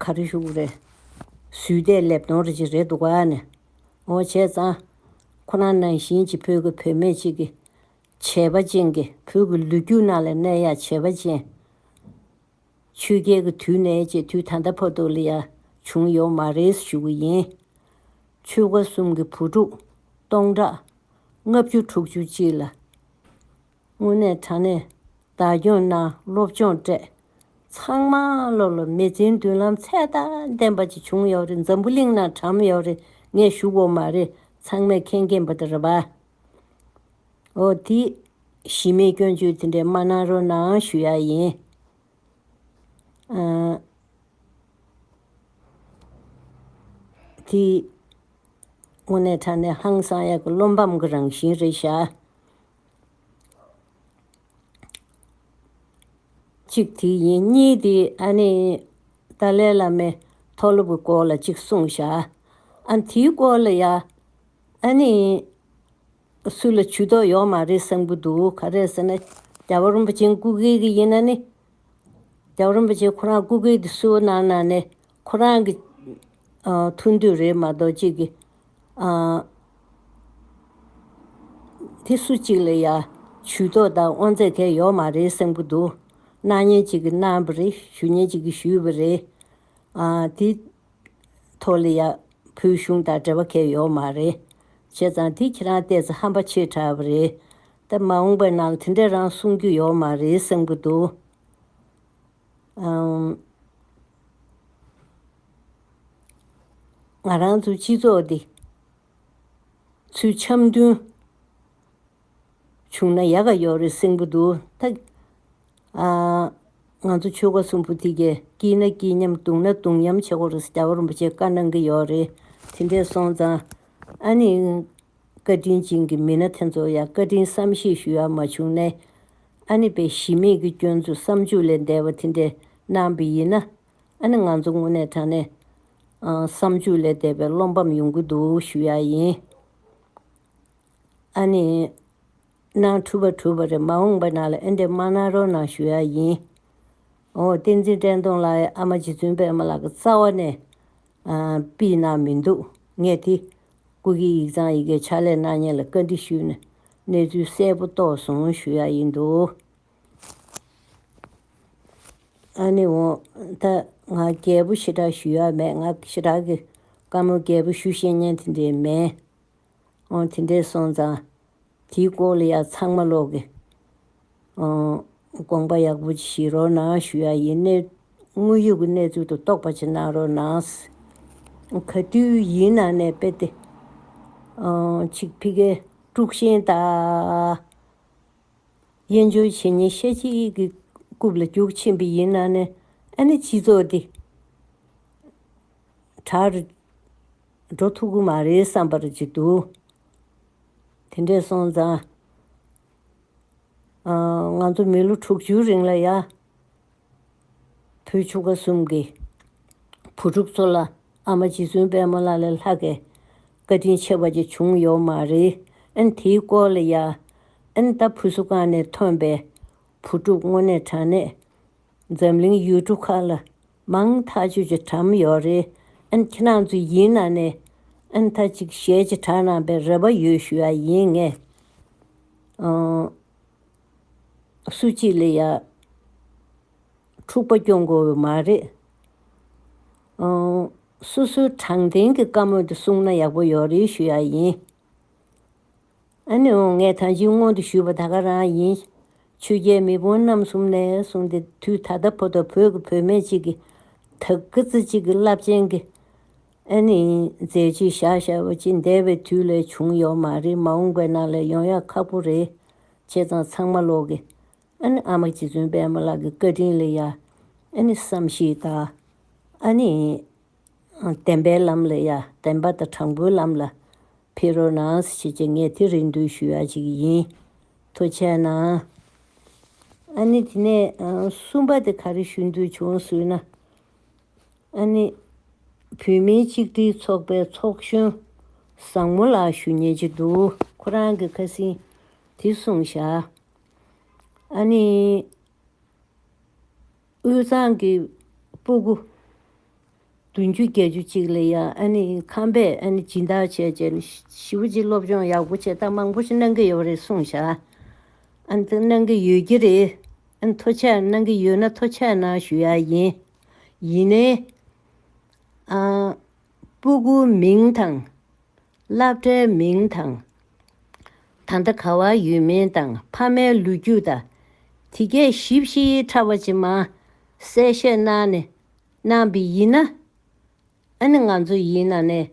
ག་རེ་ཞུ་གི་རེད། ཟུས་བལྟས་ལེབ་མདོང་རེ་ཅིག་རེད་འདུག་ཨ་ནི། འོ་བྱས་ཙང། ཁོ་རང་ནང་བཞིན་གྱི་བོད་ཀྱི་བུད་མེད་ཅིག་གི། བྱས་པ་ཅན་གྱི་བོད་ཀྱི་ལུས་རྒྱུ་ནང་ལ་གནས་ཡ་བྱས་པ་ཅན། ཆོས་རྒྱལ་གྱི་དུས་ནས་ཅེས་དུས་ད་ལྟ་བར་དུ་ལ་ཡང་བྱུང་ཡོད་མ་རེད་ཞུ་གི་ཡིན། ཆོལ་ཁ་གསུམ་གྱི་བུ་ཕྲུག་སྟོང་ཕྲག་ལྔ་བཅུ་དྲུག་ཅུ་གཅིག་ལ་དངོས་གནས་དྲང་གནས་བདག་སྐྱོང་གནང་སློབ་སྦྱོང་སྤྲད། ཚང་མ་སློབ་ལ་མི་བརྩི་མདུན་ལམ་ཚད་མཐའ་ལྡན་པ་ཅིག་བྱུང་ཡོད་རེད་འཛམ་བུ་གླིང་ན་དྲམ་ཡོད་རེད་ངས་ཞུ་གོ་མ་རེད་ཚང་མས་མཁྱེན་མཁྱེན་པ་དེ་རེད་བ། ཨོ་དེ། གཞི་མེད་སྐྱོན་བརྗོད་དེ་འདྲའི་མ་གནང་རོགས་གནང་ཞུ་ཡག་ཡིན། ཨ། དེ། དངོས་གནས་དྲ་གནས་ཧང་སང་ཡག་གི་བློ་འབམ་གི་རང་བཞིན་རེད་ཤག། གཅིག་དེ་ཡིན་གཉིས་དེ་ཨ་ནི། ཏཱ་ལའི་བླ་མའི་མཐོ་སློབ་གི་སྐོར་ལ་གཅིག་གསུངས་ཤག་ཨ། དེའི་སྐོར་ལ་ཡ། ཨ་ནི། སུ་ལ་ཇུས་གཏོགས་ཡོག་མ་རེད་བསམ་གི་འདུག་ག་རེད་ཟེར་ན། རྒྱ་བོད་རིན་པོ་ཆེན་སྐུ་སྒེར་གི་ཡིན་ན་ནི། རྒྱ་བོད་རིན་པོ་ཆེན་ཁོ་རང་སྐུ་སྒེར་གི་སུའོ་གནང་ན་ནི། ཁོ་རང་གི། ཐུགས་འདོད་རེད་མ་གཏོགས་གཅིག་གི། དེ་སུ་གཅིག་ལ་ཡང་ཇུས་གཏོགས་དང་དབང་ཚད་གས་ཡོག་མ་རེད་བསམ་གི་འདུག་གནང་ཉེན་གཅིག་གི་གནང་བ་རེད་ཞུ་ཉེན་གཅིག་གི་ཞུས་པ་རེད། དེ་ཐོ་ལི་ཡ། བོད་གཞུང་དང་འབྲེལ་བ་ཁེལ་ཡོད་མ་རེད། བྱས་ཙང་དེ་ཁྱེད་རང་བལྟས་ཚེ་ཧམ་པ་ཆེ་དྲགས་པ་རེད། ད་མ་འོངས་པའི་ནང་ལ་དེ་འདྲའི་རང་གསུང་རྒྱུ་ཡོད་མ་རེད་བསམ་གྱི་འདུག་ཨང། ང་རང་ཚོའི་སྤྱི་ཚོགས་འདི། ཚུལ་འཆམ་མཐུན། བྱུང་ན་ཡག་ག་ཡོག་རེད་སེང་པོ་འདུག་ད། ང་ཚོ་ཆོལ་ཁ་གསུམ་པོ་དེ་གས་སྐྱིད་ན་སྐྱིད་མཉམ་བཏུང་ན་བཏུང་མཉམ་བྱེད་དགོས་རེད་ཟེར་རྒྱ་བོ་རིན་པོ་ཆེ་བཀའ་གནང་གི་ཡོག་རེད་དེ་འདྲས་སོང་ཙང། ཨ་ནི། བཀའ་དྲིན་ཅན་གྱི་མི་སྣ་དེ་ཚོ་ཡང་བཀའ་དྲིན་བསམ་ཤེས་ཞུ་ཡག་མ་བྱུང་ནས། ཨ་ནི་པའི་གཞི་མེད་ཀྱི་སྐྱོན་འཛུགས་བསམ་བྱུག་ལས་འདས་པ་དེ་འདྲས་གནང་པའི་ཡིན་ན། ཨ་ནི་ང་ཚོ་དངོས་གནས་དྲང་གནས། བསམ་བྱུག་ལས་འདས་པའི་བློ་འབམ་ཡོང་གི་འདུག་ཞུ་ཡག་ཡིན། ཨ་ནི། ནང་འཁྲུལ་པ་འཁྲུལ་པ་རེད་མ་འོངས་པ་ནང་ལ་ཨེ་འདེབས་མ་གནང་རོགས་གནང་ཞུ་ཡ་ཡིན། ཨོ་བསྟན་འཛིན་བཀྲས་མཐོང་ལགས་ཨ་མ་རྗེ་བཙུན་པད་མ་ལགས་ཀྱི་རྩ་བ་ནས་པི་གནང་མི་འདུག་ངས་དེ་སྐུ་སྒེར་ཡིག་ཚང་ཡི་གེ་ཕྱག་ལས་གནང་ཉེ་ལ་བཀའ་འདྲི་ཞུས་ནས་གནས་ཚུལ་གསལ་པོ་རྟོགས་སོང་ཞུ་ཡ་ཡིན་འདུག་ཨ་ནི་འོ་ད་ང་རྒྱལ་པོ་ཞེ་དྲག་ཞུ་ཡ་མེད་ང་ཞེ་དྲག་གི་བཀའ་མོལ་རྒྱལ་པོ་ཞུ་ཤེས་ཉེན་དེ་འདྲས་མེད། ཨང། དེ་འདྲའི་སོང་ཙང་དེའི་སྐོར་ལ་ཡང་ཚང་མ་ཀློག་གི། ཨང། དགོངས་པ་ཡག་པོ་བཞེས་རོགས་གནང་ཞུ་ཡག་ཡིན། དངོས་ཡོད་ཀྱི་གནས་ཚུལ་དུ་རྟོགས་པ་ཅིག་གནང་རོགས་གནང། ག་དུས་ཡིན་ནང་ནས་དཔེ་དེ། ཨང། ཅིག་ཕི་གའི་དཀྲུགས་ཤིང་རྟ། དབྱེན་སྦྱོར་བྱེད་ཉིན་ཤས་ཅིག་གི་རྐུབ་ལ་རྒྱུག་ཕྱིན་པ་ཡིན་ནང་ནས་ཨ་ནི་སྤྱི་ཚོགས་འདི། དྲག། འགྲོ་ཐུབ་ཀྱི་མ་རེད་བསམ་པར་བགྱིད་འདུག་དེ་འདྲས་སོང་ཙང། ང་ཚོ་མི་ལོ་དྲུག་ཅུའི་རིང་ལ་ཡང། བུ་ཆུང་བ་གསུམ་གྱི་བུ་ཕྲུག་ཚོ་ལ་ཨ་མ་རྗེ་བཙུན་དཔལ་མོ་ལ་ལས་ལྷ་གི་བཀའ་དྲིན་ཆེ་བ་ཅིག་བྱུང་ཡོད་མ་རེད་ཨང་དེའི་སྐོར་ལ་ཡང། ཨང་ད་ཕུ་སུ་ཀང་ནས་ཐོན་པའི་བུ་ཕྲུག་དངོས་གནས་དྲང་གནས་འཛམ་གླིང་ཡུལ་གྲུ་ཁག་ལ་མང་ཐག་ཆོད་ཀྱི་གྲ་མི་ཡོག་རེད་ཨན་ཁྱེད་རང་ཚོ་ཡིན་ན་ནས་ཨན་ཐ་ཅིག་ཞལ་གྱི་གྲ་གནང་པའི་རེ་བ་ཡོད་ཞུ་ཡ་ཡིན་ངས་སུ་གཅིག་ལ་ཡ་འཁྲུག་པ་སྐྱོང་དགོས་ཡོད་མ་རེད་སུ་སུ་དྲང་བདེན་གྱི་བཀའ་མོལ་དེ་གསུང་ན་ཡག་པོ་ཡོག་རེད་ཞུ་ཡ་ཡིན། ཨ་ནུ་ངས་ད་ཅིའི་སྔོན་དུ་ཞུས་པ་ད་ག་རང་ཡིན། ཆོས་རྒྱལ་མེས་དཔོན་རྣམ་གསུམ་ནས་བཟུང་སྟེ་དུས་ད་ལྟ་བོ་དང་བོད་ཀྱི་བུད་མེད་ཅིག་གིས་དག་སྐུ་ཚེ་གཅིག་གི་རླབས་ཆེན་གྱི་ཨ་ནི་མཛད་རྗེས་བཞག་བཞག་པ་ཅི་འདས་པའི་དུས་ལས་བྱུང་ཡོད་མ་རེད་མ་འོངས་པའི་ནང་ལས་ཡོང་ཡག་ཁག་པོ་རེད། བྱས་ཙང་ཚང་མ་ལོག་གི། ཨ་ནི་ཨ་མ་རྗེ་བཙུན་པདྨ་ལགས་ཀྱི་བཀའ་དྲིན་ལས་ཡ། ཨ་ནི་བསམ་ཤེས་དང། ཨ་ནི། བདེན་པའི་ལམ་ལ་ཡ་བདེན་པ་དང་དྲང་པོའི་ལམ་ལ་ཕེབས་རོགས་གནང་ཞེས་ཀྱང་ངས་དེ་རིང་འདུན་ཞུ་ཡ་བྱེད་ཀྱི་ཡིན། ཐུགས་ཆེ་གནང། ཨ་ནི་དེ་ནས་གསུམ་པ་དེ་ག་རེ་ཞུ་འདོད་བྱུང་ཟུར་ན། ཨ་ནི། བོད་མིའི་གཅིག་སྒྲིལ་ཚོགས་པའི་ཚོགས་གཞོན་བཟང་མོ་ལགས་ཞུ་ཉེ་ཆེ་འདུག་ཁོ་རང་གི་ཁ་སིང་དེ་གསུངས་བཞག། ཨ་ནི། དབུས་གཙང་གི་སྤུ་གུ་བདུན་ཅུ་བརྒྱད་ཅུ་གཅིག་ལ་ཡང་ཁམས་པས་སྦྱིན་བདག་བྱས་རྗེས་ཞི་བ་རྗེས་སློབ་སྦྱོང་ཡག་པོ་བྱེད་སྟངས་མང་པོ་ཞིག་གནང་གི་ཡོད་པ་རེད་གསུངས་བཞག་དེ་གནང་གི་ཡོད་ཀྱི་རེད། མཐོ་ཆས་གནང་གི་ཡོད་ན་མཐོ་ཆས་ནང་ཞུ་ཡག་ཡིན། ཡིན་ནའི། སྤུ་གུ་མིང་དང། བླ་བྲེ་མིང་དང། ད་ལྟ་ག་བ་ཡོད་མིན་དང་ཕ་མའི་ལུས་རྒྱུ་དང། དེ་གས་བཞི་བཞིའི་ཕྲ་བ་ཅི་མང་གསལ་བཤད་གནང་ནས་གནང་བི་ཡིན་ན། ཨ་ནི་ང་ཚོ་ཡིན་ན་ནས་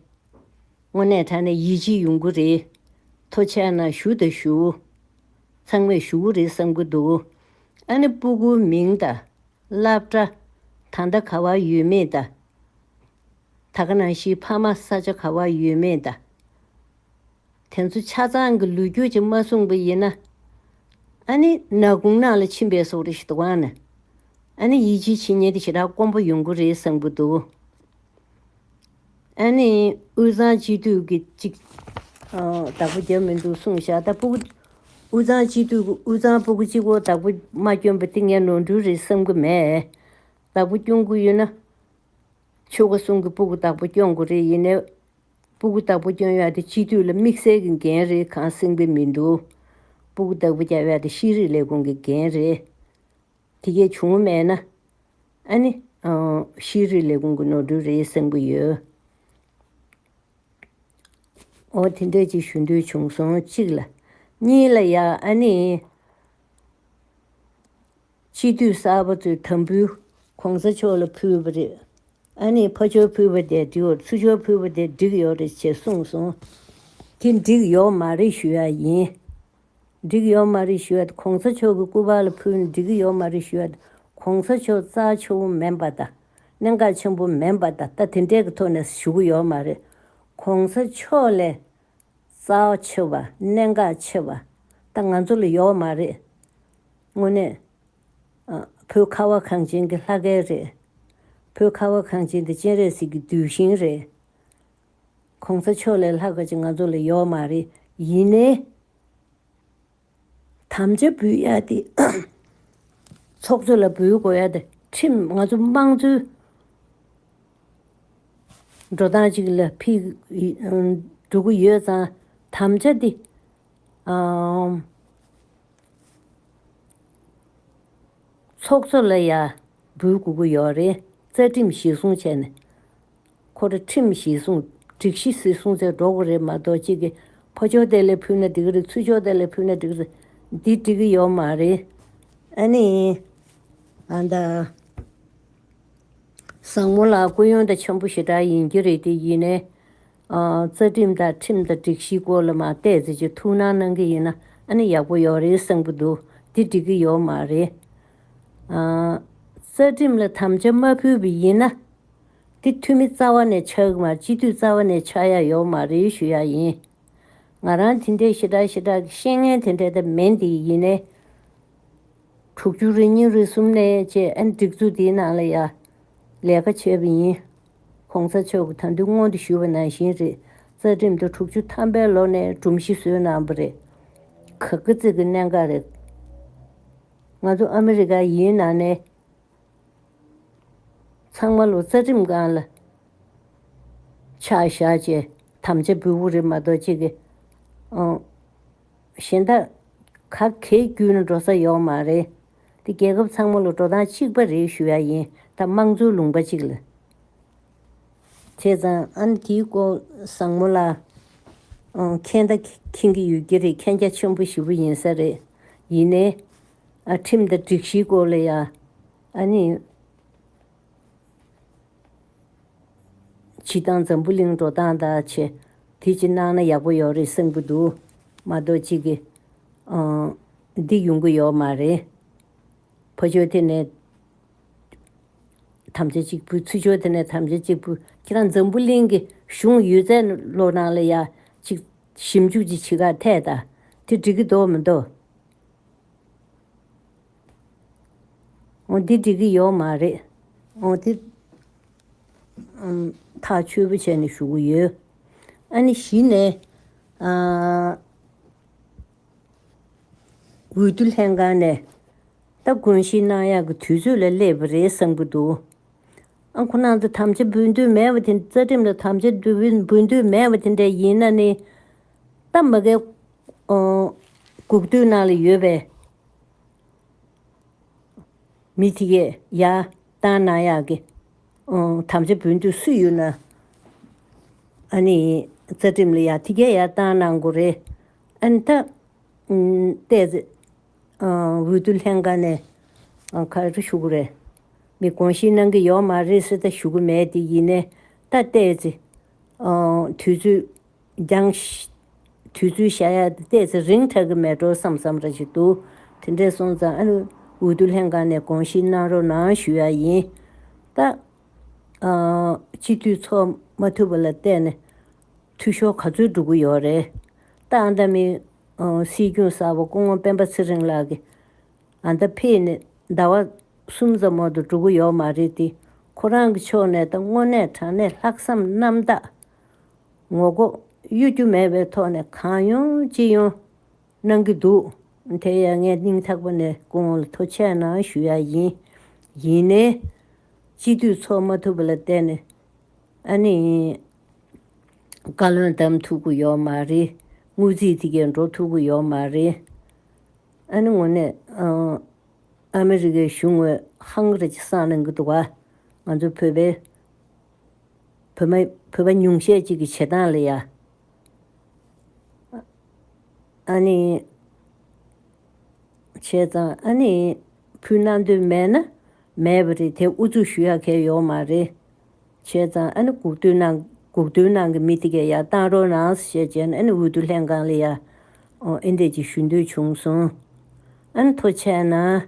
དངོས་གནས་དྲ་ནས་ཡིད་ཆེས་ཡོང་གི་རེད། ཐོ་ཆད་ན་ཞུ་དང་ཞུ། ཚང་མས་ཞུ་གི་རེད་བསམ་གི་འདུག་ཨ་ནི་སྤུ་གུ་མིང་དང། བླ་བྲེ། ད་ལྟ་ག་བ་ཡོད་མིན་དང། ད་ག་ནང་བཞིན་ཕ་མ་ས་ཆ་ག་བ་ཡོད་མེད་ད་དེ་ཚོ་ཆ་ཚང་གི་ལུས་རྒྱུ་ཅིག་མ་གསུངས་པ་ཡིན་ན་ཨ་ནི་ན་གུང་ནང་ལ་ཕྱིན་པའི་སོག་རི་ཞིག་ཏུ་བང་ནི་ཨ་ནི་ཡིད་ཆེས་བྱེད་ཉེན་དེ་ཞེ་དྲག་དཀོན་པོ་ཡོང་གི་རེད་བསམ་གི་འདུག་ཨ་ནི་དབུས་གཙང་སྤྱི་འཐུས་ཀྱི་ཅིག་བདག་པོ་རྒྱབ་མི་འདུག་གསུངས་བཞག་ད་སྤུ་གུ་དབུས་གཙང་སྤྱི་འཐུས་དབུས་གཙང་སྤུ་གུ་གཅིག་བོ་བདག་པོ་མ་སྐྱོན་པ་དེ་ངས་ནོར་འཁྲུལ་རེད་བསམ་གི་མེད་བདག་པོ་སྐྱོན་དགོས་ཡོད་ན་ཆོ་ག་གསུང་གི་སྤུ་གུ་དག་པོ་སྐྱོང་དགོས་རེད་ཡིན་ནའི། སྤུ་གུ་དག་པོ་སྐྱོང་ཡག་དེ་སྤྱི་འཐུས་ལ་དམིགས་བསལ་གི་འགན་རེད་གང་གསེང་པའི་མི་འདུག། སྤུ་གུ་དག་པོ་རྒྱག་ཡག་དེ་ཤེས་རིག་ལས་ཁུངས་ཀྱི་འགན་རེད། དེ་གས་བྱུང་བ་མེད་ན། ཨ་ནི། ཤེས་རིག་ལས་ཁུངས་ཀྱི་ནོར་འཁྲུལ་རེད་གསེང་གི་ཡོད། འོ་དེ་འདྲ་ཅིག་ཞུ་འདོད་བྱུང་སོང་གཅིག་ལ། གཉིས་ལ་ཡ་ཨ་ནི། སྤྱི་འཐུས་གསར་པ་ཚོས་དམ་འབུལ། གོང་ས་མཆོག་ལ་ཕུལ་བ་རེད། ཨ་ནེ་ཕ་ཆོལ་ཕུལ་བ་དེ་དུས་བར་ཚུར་ཆོལ་ཕུལ་བ་དེ་འགྲིག་ཡོག་རེད་ཅེས་གསུངས་སོང། དེ་འགྲིག་ཡོག་མ་རེད་ཞུ་ཡག་ཡིན། འགྲིག་ཡོག་མ་རེད་ཞུ་ཡག་དེ་གོང་ས་མཆོག་གི་སྐུ་པར་ལ་ཕུལ་ནས་འགྲིག་ཡོག་མ་རེད་ཞུ་ཡག་དེ་གོང་ས་མཆོག་རྩ་ཆེ་བོ་མིན་པ་དང་གནད་འགག་ཆེན་པོ་མིན་པ་ད་ལྟ་དེ་འདྲའི་གི་ཐོག་ནས་ཞུ་གི་ཡོག་མ་རེད། གོང་ས་མཆོག་ལས། རྩ་བ་ཆེ་བ་གནད་འགག་ཆེ་བ་ད་ང་ཚོ་ལ་ཡོད་མ་རེད། དངོས་གནས། བོད་ཁ་བ་གངས་ཅན་གྱི་ལྷ་སྐལ་རེད། བོད་ཁ་བ་གངས་ཅན་དེ་སྤྱན་རས་གཟིགས་ཀྱི་གདུལ་ཞིང་རེད། གོང་ས་མཆོག་ལས་ལྷག་པ་ཅིག་ང་ཚོ་ལ་ཡོད་མ་རེད། ཡིན་ནའི། དམ་བཅའ་འབུལ་ཡག་སྟེ། ཚོགས་གཙོ་ལ་འབུལ་དགོས་ཡག་སྟེ་ཁྲིམས་ང་ཚོ་དམངས་གཙོའི་འགྲོ་སྟངས་ཅིག་ལ་ཕིགས་འགྲོ་གི་ཡོད་ཙང་དམ་བཅའ་འདི་ཚོགས་གཙོ་ལ་ཡག་འབུལ་དགོས་གི་ཡོད་རེད་རྩ་ཁྲིམས་གཞིར་བཟུང་བྱས་ནས་ཁོ་ར་ཁྲིམས་གཞི་བཟུང་སྒྲིག་གཞི་སི་སྲུང་ཚེ་འགྲོ་གི་རེད་མ་གཏོགས་གཅིག་གི་ཕོ་ཅོ་དེ་ལས་ཕུད་ན་འགྲིག་གི་རེད་ཚུ་ཅོ་དེ་ལས་ཕུད་ན་འགྲིག་གི་རེད་འདི་འགྲིག་གི་ཡོད་མ་རེད་ཨ་ནི། ཨ་མདའ། བཟང་མོ་ལགས་སྐུ་ཡོན་ཏན་ཆེན་པོ་ཞེ་དྲག་ཡིན་གྱི་རེད་དེ་ཡིན་ནའི། རྩ་ཁྲིམས་དང་ཁྲིམས་དང་སྒྲིག་གཞི་སྐོར་ལ་མ་བལྟས་ཚེ་ཅིག་ཐུགས་སྣང་གནང་གི་ཡིན་ན་ཨ་ནི་ཡག་པོ་ཡོད་རེད་བསམ་གི་འདུག་འདི་འགྲིག་གི་ཡོད་མ་རེད། རྩ་ཁྲིམས་ལ་དམ་བཅའ་མ་ཕུལ་བའི་ཡིན་ན། འདི་འཐུས་མི་རྩ་བ་ནས་ཆགས་ཀྱི་མ་རེད་སྤྱི་འཐུས་རྩ་བ་ནས་ཆགས་ཡ་ཡོད་མ་རེད་ཞུ་ཡ་ཡིན། ང་རང་དེ་འདྲའི་ཞི་དྲག་ཞི་དྲག་གི་ཤེས་ངན་དེ་འདྲའི་དེ་མེད་འདི་ཡིན་ནའི། དྲུག་བཅུ་རེ་གཉིས་རེ་གསུམ་ནས་བཅས་ཨན་སྒྲིག་འཛུགས་དེའི་ནང་ལ་ཡ་ལས་ཀ་བྱས་པ་ཡིན། གོང་ས་མཆོག་གི་ད་འདུན་སྔོན་དུ་ཞུས་པ་ནང་བཞིན་རེད་རྩ་ཁྲིམས་དེ་དྲུག་བཅུ་ཐམ་པའི་ལོ་ནས་སྒྲོམ་གཞི་བཟོས་གནང་པ་རེད། ག་གི་ཚིག་གི་གནད་འགག་རེད། ང་ཚོ་ཨ་མི་རི་ཀ་ཡིན་ནང་ནས། ཚང་མ་ལོ་ཙཱ་རིམས་གང་ལ་ཕྱག་བཞག་བྱས་དམ་བཅའ་འབུལ་བོ་རེ་མ་གཏོགས་ཅི་གི་ཨང། གཞན་དག་ག་གེ་བརྒྱུད་ན་འགྲོ་ས་ཡོག་མ་རེད། འདི་རྒྱལ་ཁབ་ཚང་མ་ལོ་འགྲོ་སྟངས་གཅིག་པ་རེད་ཞུ་ཡ་ཡིན་ད་དམངས་གཙོའི་ལུང་པ་ཅིག་ལ་བྱས་ཙང། ཨང་དེའི་སྐོར་བཟང་མོ་ལ་མཁྱེན་ད་མཁྱེན་གི་ཡོད་ཀྱི་རེད་མཁྱེན་རྒྱ་ཆེན་པོ་ཞི་བོ་ཡིན་ས་རེད་ཡིན་ནའི། ཁྲིམས་དང་སྒྲིག་གཞིའི་སྐོར་ལ་ཡང་ནི། བྱི་ཏང་འཛམ་བུ་གླིང་འགྲོ་སྟངས་དག་ཆེ། དེ་ཅིག་གནང་ན་ཡག་པོ་ཡོག་རེད་བསམ་གྱི་འདུག་མ་གཏོགས་ཅིག་གི། འདི་ཡོང་གི་ཡོག་མ་རེད། ཕོ་ཆོལ་དེ་ནས་དམ་བཅའ་གཅིག་པུ་ཚུལ་འཆོས་དེ་ནས་དམ་བཅའ་གཅིག་པུ་ཁྱེད་རང་འཛམ་བུ་གླིང་གི་གཞུང་ཡོད་ཚད་ལོ་ནང་ལ་ཡག་ཅིག་ཞིབ་འཇུག་ཅིག་བྱེད་ཁ་འཐད་ད་དེ་འགྲིག་གི་འདོག་མི་འདོག་འོ་འདི་འགྲིག་གི་ཡོད་མ་རེད། འོ་དེ། ཐག་ཆོད་པོ་བྱས་ནས་ཞུ་གི་ཡོད། ཨ་ནི་གཞི་ནས། འོས་བསྡུ་ལྷན་ཁང་ནས། ད་དགོངས་གཞི་གནང་ཡག་གི་དུས་ཚོད་ལ་སླེབས་པ་རེད་བསམ་གྱི་འདུག། ཨ་ཁོ་ནང་དུ་དམ་བཅའ་འབུལ་འདོད་མེད་པ་དེ་རྩ་ཁྲིམས་ལ་དམ་བཅའ་འབུལ་འདོད་མེད་པ་དེ་འདྲ་ཡིན་ན་ནི། རྟ་མ་གའི་གུག་ཐུལ་ནང་ལ་ཡོད་པའི། མི་དེ་ཡས་ཡ། ཏང་ནང་ཡག་གི། དམ་བཅའ་བུན་དུ་སུ་ཡོད་ན། ཨ་ནི་རྩ་ཁྲིམས་ལ་ཡ་དེ་གས་ཡ་ཏང་ནང་གོ་རེ། ཨ་ནི་ད། ལྟས་ཚེ། འོས་བསྡུ་ལྷན་ཁང་ནས། ཁ་རེ་ཞུ་གོ་རེ། མི་དགོངས་ཞེན་གནང་གི་ཡོག་མ་རེད་སེ་ད་ཞུ་གི་མེད་དེ་ཡིན་ནས་ད་ལྟས་ཚེ། དུས་ཚོད་རྒྱང། དུས་ཚོད་ཤ་ཡ་དེ་བལྟས་ཚེ་རིང་དྲགས་ཀྱི་མེད་འགྲོ་བསམ་བསམ་རེ་བྱེད་འདུག་དེ་འདྲས་སོང་ཙང་ཨ་རིའི་འོས་བསྡུ་ལྷན་ཁང་ནས་དགོངས་བཞེས་གནང་རོགས་གནང་ཞུ་ཡ་ཡིན། ད། སྤྱི་འཐུས་ཚོགས་མ་ཐུབ་པ་ལ་བལྟས་ནས་འཐུས་ཤོར་ག་ཚོད་འགྲོ་གི་ཡོད་རེད། ད་ཨ་མདའ་མི། སྲིད་སྐྱོང་གསར་བ་སྐུ་ངོ་སྤེན་པ་ཚེ་རིང་ལགས་ཀྱིས་ཨ་མདའ་ཕེབས་ནས་ཟླ་བ་གསུམ་ཙམ་འོག་ཏུ་འགྲོ་གི་ཡོད་མ་རེད་དེ། ཁོ་རང་གི་ཕྱོགས་ནས་ད་དངོས་གནས་དྲང་གནས་ལྷག་བསམ་རྣམ་དག། ངོ་ལྐོག་གཡོ་སྒྱུ་མེད་པའི་ཐོག་ནས་གང་ཡོང་ཅི་ཡོང་གནང་གི་འདུག་དེ་ཡང་ངས་སྙིང་ཐག་པ་ནས་ཁོང་ལ་ཐུགས་ཆད་གནང་ཞུ་ཡག་ཡིན། ཡིན་ནའི། སྤྱི་འཐུས་ཚོགས་མ་ཐུབ་པ་ལ་བརྟེན་ནས་ཨ་ནི་བཀའ་བློན་བདམས་ཐུབ་ཀི་ཡོག་མ་རེད། དངུལ་རྩིས་དེ་གས་འགྲོ་ཐུབ་ཀི་ཡོག་མ་རེད། ཨ་ནི་ངོ་ནས་ཨ་མི་རི་ཀའི་གཞུང་ངོས་ཧང་རེ་ཅི་སང་གནང་གི་འདུག་ང་ཚོ་བོད་པའི་བོད་པ་ཉུང་ཤས་ཅིག་གི་བྱེད་སྟངས་ལ་ཡ། ཨ་ནི། བྱས་ཙང་ཨ་ནི། ཕུ་ན་འདོད་མེད་ན། མེད་པ་རེད་དེ་ཨུ་ཚུགས་ཞུ་ཡ་གལ་ཡོག་མ་རེད། བྱས་ཙང་ཨ་ནི་གུག་ཏུ་ན་གུག་ཏུ་ནང་གི་མི་དེ་གས་ཡ་གཏང་རོག་ནངས་ཞེས་བྱས་ན་ཨ་ནི་འུ་ཏུ་ལྷན་ཁང་ལ་ཡ། ཨོ་ཨེ་འདེད་ཅིག་ཞུ་འདོད་བྱུང་སོང། ཨ་ནི་ཐོ་ཆད་ན།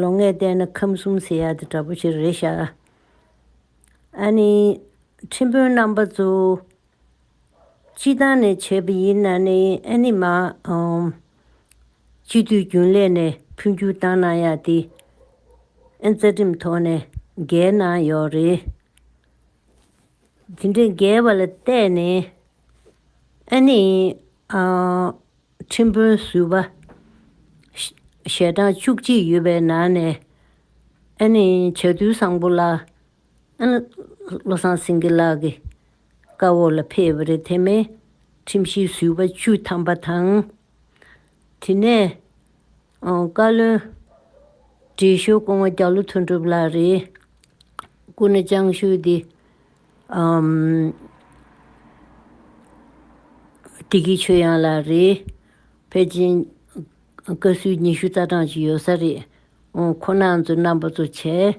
ལོ་ལྔའི་སྟེང་ན་ཁམས་གསུམ་ཟེར་ཡག་དེ་འདྲ་པོ་ཞིག་རེད་ཤག། ཨ་ནི། ཁྲིམས་དཔོན་རྣམ་པ་ཚོ། སྤྱི་བཏང་ནས་བྱས་པ་ཡིན་ན་ནི་ཨེ་ནི་མ་འོང། སྤྱི་འཐུས་རྒྱུན་ལས་ནས་འཕོ་འགྱུར་བཏང་གནང་ཡག་དེ། ཨེ་རྩ་ཁྲིམས་ཐོག་ནས་འགལ་གནང་ཡོག་རེད། དེ་འདྲའི་འགལ་བ་ལ་བལྟས་ནས་ཨེ་ནི། ཁྲིམས་དཔོན་ཟུར་པ་ཞལ་གྲངས་བཅུ་གཅིག་ཡོད་པའི་ནང་ནས། ཨ་ནི་བྱ་རྡུལ་བཟང་པོ་ལགས། ཨ་ནི་བློ་བཟང་སེང་གེ་ལགས་ཀྱི་བཀའ་འོག་ལ་ཕེབས་པ་རེད་དེ་མིན་ཁྲིམས་ཞིབ་ཟུར་པ་བཅུ་ཐམ་པ་དང། དེ་ནས་བཀའ་བློན་ཁྲི་ཞུ་ཀོང་བ་རྒྱ་ལོ་དོན་གྲུབ་ལགས་རེད། སྐུ་ནི་ཅང་ཤུའི་དེ་ཀྲི་ཀི་ཆོས་དབྱངས་ལགས་རེད། ཕལ་ཆེན་བཀའ་ཟུར་ཉི་ཤུ་རྩ་གྲངས་ཅིག་ཡོད་ས་རེད། ཁོ་ན་ཚོ་རྣམ་པ་ཚོ་བྱས།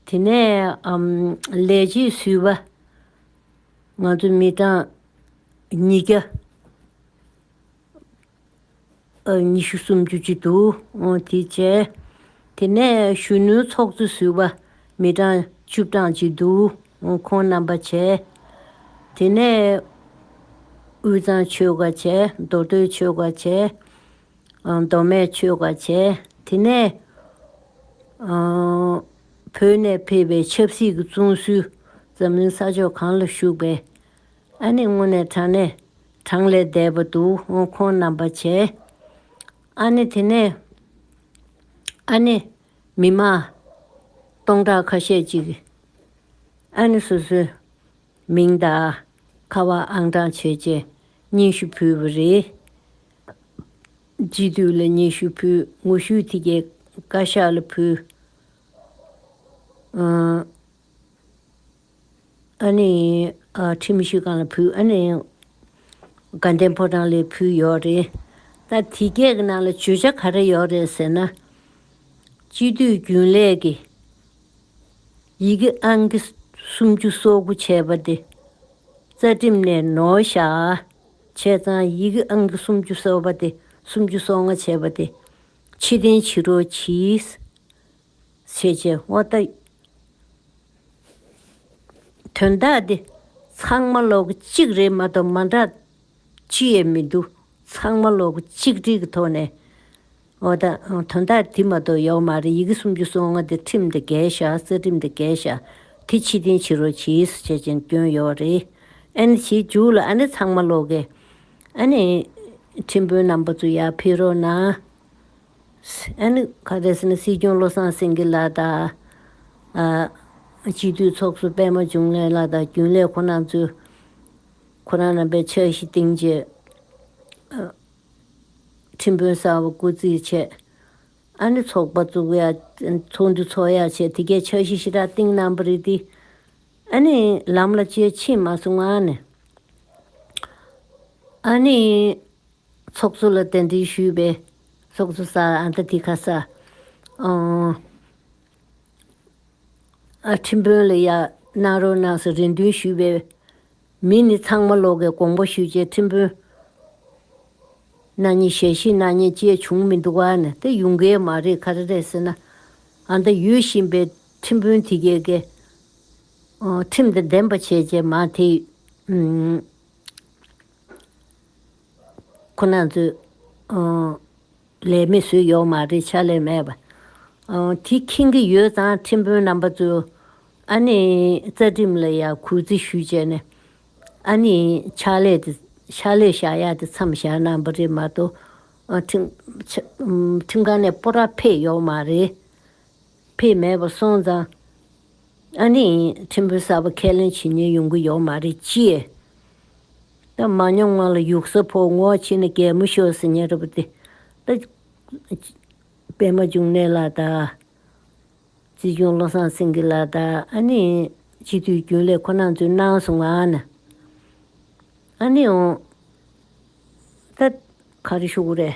དེ་ནས་ལས་བྱེད་ཟུར་བ་ང་ཚོ་མི་གྲངས་ཉིས་བརྒྱ། ཉི་ཤུ་སུམ་ཅུ་ཅིག་ཏུ་དེ་བྱས། དེ་ནས་གཞོན་ནུའི་ཚོགས་གཙོ་ཟུར་བ་མི་གྲངས་བཅུ་གྲངས་ཅིག་ཏུ་ཁོང་རྣམ་པ་བྱས། དེ་ནས་དབུས་གཙང་ཆོལ་ཁ་བྱས་མདོ་སྟོད་ཆོལ་ཁ་བྱས། མདོ་སྨད་ཆོལ་ཁ་བྱས་དེ་ནས་བོད་ནས་ཕེབས་པའི་ཆབ་སྲིད་ཀྱི་བཙོན་ཟུར་འཛམ་གླིང་ས་ཕྱོགས་གང་ལ་བཞུགས་པའི་ཨ་ནེ་དངོས་གནས་ཚ་ནས་གྲངས་ལས་འདས་པ་འདུག་ཨོ་ཁོང་རྣམ་པ་བྱས། ཨ་ནེ་དེ་ནས། ཨ་ནེ། མི་མ། སྟོང་ཕྲག་ཁ་ཤས་ཅིག། ཨ་ནེ་སོ་སོའི། མིང་དང། ཁ་བ་ཨང་གྲངས་བྱོས་བྱས། སྙན་ཞུ་ཕུལ་བ་རེད། སྤྱི་འཐུས་ལ་སྙན་ཞུ་ཕུལ་ངོ་བཤུས་དེ་གའི་བཀའ་ཤག་ལ་ཕུལ། ཨ་ནེ། ཁྲིམས་མི་ཤེས་གང་ལ་ཕུལ་ཨ་ནེ། དགའ་ལྡན་ཕོ་བྲང་ལས་ཕུལ་ཡོད་རེད། ད་དེ་སྐད་གི་ནང་ལ་བརྗོད་བྱ་ག་རེ་ཡོད་རེད་ཟེར་ན། སྤྱི་འཐུས་རྒྱུན་ལས་ཀྱི་ཡི་གེ་ཨང་ཀི་སུམ་ཅུ་སོ་དགུ་བྱས་པ་དེ་རྩ་ཁྲིམས་ནས་ནོར་བཞག་བྱས་ཙང་ཡི་གེ་ཨང་ཀི་སུམ་ཅུ་སོ་པ་དེ་སུམ་ཅུ་སོ་ལྔ་བྱས་པ་དེ་ཕྱི་བདེན་ཕྱི་རོལ་གྱིས་ཚེས་བཅད་དབོ་ལྟ། དོན་དག་འདི་ཚང་མ་ལོག་གཅིག་རེད་མ་གཏོགས་མ་འདྲ་ཅི་ཡས་མི་འདུག་ཚང་མ་ལོག་གཅིག་སྒྲིག་གི་ཐོག་ནས་དབོ་ལྟ། དོན་དག་དེ་མ་གཏོགས་ཡོག་མ་རེད་ཡི་གེ་སུམ་ཅུ་སོ་ལྔ་དེ་ཁྲིམས་དེ་འགལ་བཞག་རྩ་ཁྲིམས་དེ་འགལ་བཞག་དེ་ཕྱི་བསྟན་ཕྱི་རོལ་ཇི་ཡིས་སུ་བྱས་ཅན་སྐྱོན་ཡོག་རེད་ཨ་ནི་བྱེད་འཇུག་ལ་ཨ་ནི་ཚང་མ་ལོག་གི་ཨ་ནི་ཁྲིམས་དཔོན་རྣམ་པ་ཚོ་ཡར་འཕེལ་རོགས་གནང། ཨནུཀྷ-དཱས་ནི་སྲིད་སྐྱོང་བློ་བཟང་སེང་གེ་ལགས་དང། སྤྱི་འཐུས་ཚོགས་གཙོ་པད་མ་འབྱུང་གནས་ལགས་དང་རྒྱུན་ལས་ཁོ་ན་ཚོས་ཁོ་རང་རྣམ་པའི་ཕྱག་བཞི་གཏིང་བརྗེ། ཁྲིམས་དཔོན་གསར་བ་བསྐོ་རྩིས་བྱས། ཨ་ནི་ཚོགས་པ་བཙུགས་ཡ། ཚོགས་འདུ་ཚོགས་ཡ་བྱས་དེ་གའི་ཕྱག་བཞི་ཞི་དྲག་གཏིང་གནང་བ་རེད་དེ། ཨ་ནི་ལམ་ལ་སྤྱོད་ཕྱིན་མ་སོང་ཨ་ནི། ཚོགས་གཙོ་ལ་གདན་འདྲེན་ཞུས་པས། ཚོགས་གཙོ་སར་ཨ་མདའ་དྷི་ཁ་སར། ཨ་ཁྲིམས་དཔོན་ལ་ཡར་གནང་རོགས་གནང་ཞེས་རེ་འདུན་ཞུས་པས། མི་ནི་ཚང་མ་ལོག་གི་དགོངས་པ་ཞུས་རྗེས་ཁྲིམས་དཔོན། གནའ་ཉི་ཞལ་བཞི་གནའ་ཉི་བཅས་བྱུང་མི་འདུག་ཨ་ནི་དེ་ཡུང་ཀའི་མ་རེད་ག་རེ་རེད་ཟེར་ན། ཨ་མདའ་ཡོད་བཞིན་པའི་ཁྲིམས་དཔོན་དེ་གས་ཀྱི། ཁྲིམས་དང་ལྡན་པ་བྱས་རྗེས་མ་དེ། ཁོ་ན་ཚོས། ལས་མི་བཟོས་ཡོག་མ་རེད་ཕྱག་ལས་མེད་པ། དེ་ཁེངས་ཀྱི་ཡོད་ཙང་ཁྲིམས་དཔོན་རྣམ་པ་ཚོས། ཨ་ནེ་རྩ་ཁྲིམས་ལ་ཡང་གུས་བརྩི་ཞུས་བྱས་ནས། ཨ་ནེ་ཕྱག་ལས་དེ་ཕྱག་ལས་བཞག་ཡག་དེ་མཚམས་བཞག་གནང་པ་རེད་མ་གཏོགས། ཁྲིམས་ཁང་ནས་སྤོ་ར་ཕེད་ཡོག་མ་རེད། ཕེད་མེད་པ་སོང་ཙང། ཨ་ནི་ཁྲིམས་དཔོན་གསར་པ་ཁས་ལེན་བྱེད་ཉན་ཡོང་གི་ཡོག་མ་རེད་ཅེས། ད་མ་ཉོམ་ང་ལ་ཡུག་ས་ཕོ་ངོ་ཁྱི་ནི་གད་མོ་ཤོར་ཟི་ཉན་རེད་པ་དེ། ད་པད་མ་འབྱུང་གནས་ལགས་དང། རྩིས་སྐྱོང་བློ་བཟང་སེང་གེ་ལགས་དང་ཨ་ནི་སྤྱི་འཐུས་རྒྱུན་ལས་ཁོ་ན་ཚོས་གནང་སོང་ང་ཨ་ནི་ཨ་ནི་ཨོ། ད་ག་རེ་ཤོག་གི་རེད།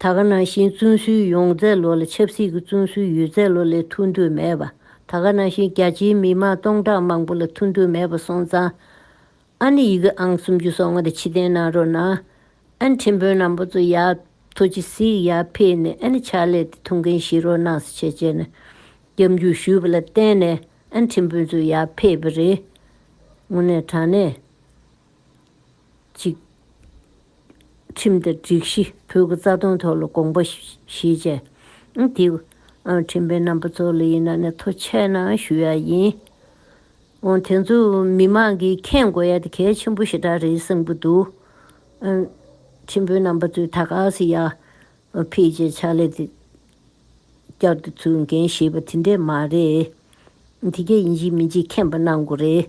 ད་ག་ནང་བཞིན་བཙོན་ཟུར་ཡོང་རྫས་ལོ་ལ་ཆབ་སྲིད་ཀྱི་བཙོན་ཟུར་ཡོད་རྫས་ལོ་ལས་ཐུག་འདོད་མེད་པ་ད་ག་ནང་བཞིན་རྒྱ་ཆེའི་མི་དམངས་སྟོང་ཕྲག་མང་པོ་ལ་ཐུག་འདོད་མེད་པ་སོང་ཙང་ཨ་ནི་ཡི་གེ་ཨང་སུམ་ཅུ་སོ་ལྔ་དེ་ཕྱི་བསྟན་གནང་རོགས་གནང་ཨན་ཁྲིམས་དཔོན་རྣམ་པ་ཚོ་ཡག་ཐོ་ཅི་ཟིག་ཡག་ཕེད་ནས་ཨན་ཕྱག་ལས་དེ་ཐུག་མཁན་ཞིག་རོགས་གནང་ས་བྱས་བྱས་ན་རྒྱབ་འཇུག་ཞུས་པ་ལ་བརྟེན་ནས་ཨན་ཁྲིམས་དཔོན་ཚོ་ཡག་ཕེད་པ་རེད་དངོས་གནས་དྲང་གནས། གཅིག། ཁྲིམས་དང་སྒྲིག་གཞི་ཕུད་ཀྱི་རྩ་དོན་ཐོག་ལ་དགོངས་པ་བཞེས་རྗེས། དེའི་ཁྲིམས་པའི་རྣམ་པ་གཙོ་ལ་ཡིན་ན་ནས་ཐོ་ཆད་ན་ཞུ་ཡག་ཡིན། འོན་དེ་ཚོ་མི་མང་གིས་མཁྱེན་དགོས་ཡག་དེ་གལ་ཆེན་པོ་ཞེ་དྲག་རེད་བསམ་གྱི་འདུག་ཁྲིམས་པའི་རྣམ་པ་ཚོས་ད་ག་ཟེ་ཡག་ཕེད་ཅེས་ཕྱག་ལས་དེ་བསྐྱར་དུ་ཚུལ་འགན་བཞེས་པ་དེ་འདྲས་མ་རེད། དེ་གལ་ཡིན་གཅིག་མིན་གཅིག་མཁྱེན་པ་གནང་དགོས་རེད།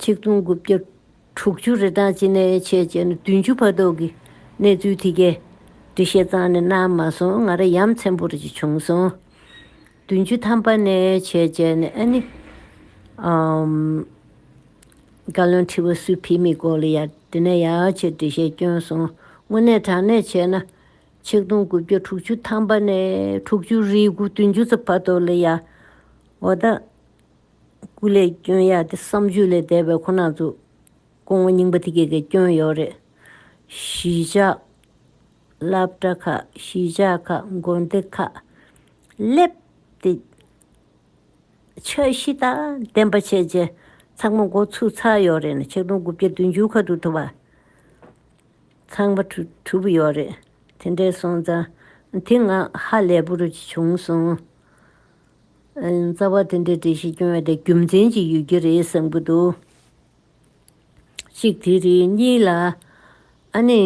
ཆིག་སྟོང་དགུ་བརྒྱ་དྲུག་ཅུ་རེ་དང་ཅི་ནས་ཕྱེད་བཅས་ནས་བདུན་ཅུ་བར་དོ་གི་གནས་ཚུལ་དེ་གའི་འབྲི་བཤད་ཙང་ནས་གནང་མ་སོང་ང་ར་ཡམས་ཚན་པོར་ཅིག་བྱུང་སོང། བདུན་ཅུ་ཐམ་པ་ནས་ཕྱེད་བཅས་ནས་ཨ་ནི། བཀའ་བློན་ཁྲི་བ་སུས་ཕེབས་མིན་སྐོར་ལ་ཡ་དེ་ནས་ཡ་ཆེ་འབྲི་བཤད་བསྐྱོན་སོང་དངོས་གནས་དྲང་གནས་བྱས་ན། ཆིག་སྟོང་དགུ་བརྒྱ་དྲུག་ཅུ་ཐམ་པ་ནས་དྲུག་ཅུ་རེའི་དགུ་བདུན་ཅུ་རྩ་བར་དོ་ལི་ཡཱ། འོ་ད། སྐུ་ལས་སྐྱོན་ཡག་དེ་བསམ་བརྗོད་ལས་འདས་པའི་ཁོ་ན་ཚོ། སྐུ་ངོ་རྙིང་པ་དེ་གས་གས་སྐྱོན་ཡོད་རེད། གཞིས་ཆགས། སླབ་གྲྭ་ཁག་གཞིས་ཆགས་ཁག་མགོ་འདི་ཁག། སླེབས། ཏེ། འཆར་གཞི་དང་བདེན་པ་བྱས་རྗེས་ཚགས་མ་མགོ་ཚུགས་ཚར་ཡོད་རེད་ན་ཆིག་སྟོང་དགུ་བརྒྱ་བདུན་ཅུའི་ཁ་ཐུག་ཐུབ་པ། ཚངས་པ་དྲུག་པོ་ཡོད་རེད་དེ་འདྲའི་སོང་ཙང་དེ་ང་ཧ་ལས་པོ་རུ་བྱུང་སོང། རྩ་བ་དེ་འདྲའི་འགྲེལ་བཤད་སྐྱོན་ཡོད་དེ་རྒྱུ་མཚན་ཅིག་ཡོད་ཀྱི་རེད་བསམ་གྱི་འདུག་གཅིག་དེ་རེད་གཉིས་ལ་ཨ་ནི་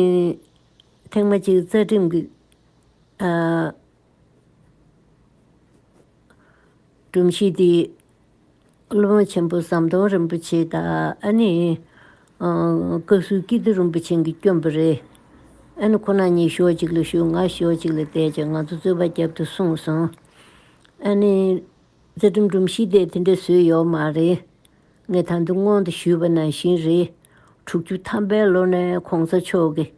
ཐེངས་མ་གཅིག་རྩ་ཁྲིམས་ཀྱི་སྒྲོམ་གཞི་དེ། ཀླུ་མོ་ཆེན་པོ་ཟམ་གདོང་རིན་པོ་ཆེ་དང་ཨ་ནི་བཀའ་ཟུར་སྐྱིད་སྡུག་རིན་པོ་ཆེན་གྱི་སྐྱོན་པོ་རེད། ཨ་ནི་ཁོ་ན་ཉིད་ཞོག་གཅིག་ལ་ཞུགས་ང་ཞོག་གཅིག་ལ་བསྡད་ཅིང་ང་ཚོ་རྩོད་པ་རྒྱབ་ཏུ་སོང་སོང། ཨ་ནི་རྩེ་གྲུམ་གྲུམ་ཤི་བསྡད་དེ་འདྲ་བཟོས་ཡོག་མ་རེད། ངས་ད་དུང་སྔོན་དུ་ཞུས་པ་ནང་བཞིན་རེད། དྲུག་ཅུ་ཐམ་པའི་ལོ་ནས་གོང་ས་མཆོག་གིས་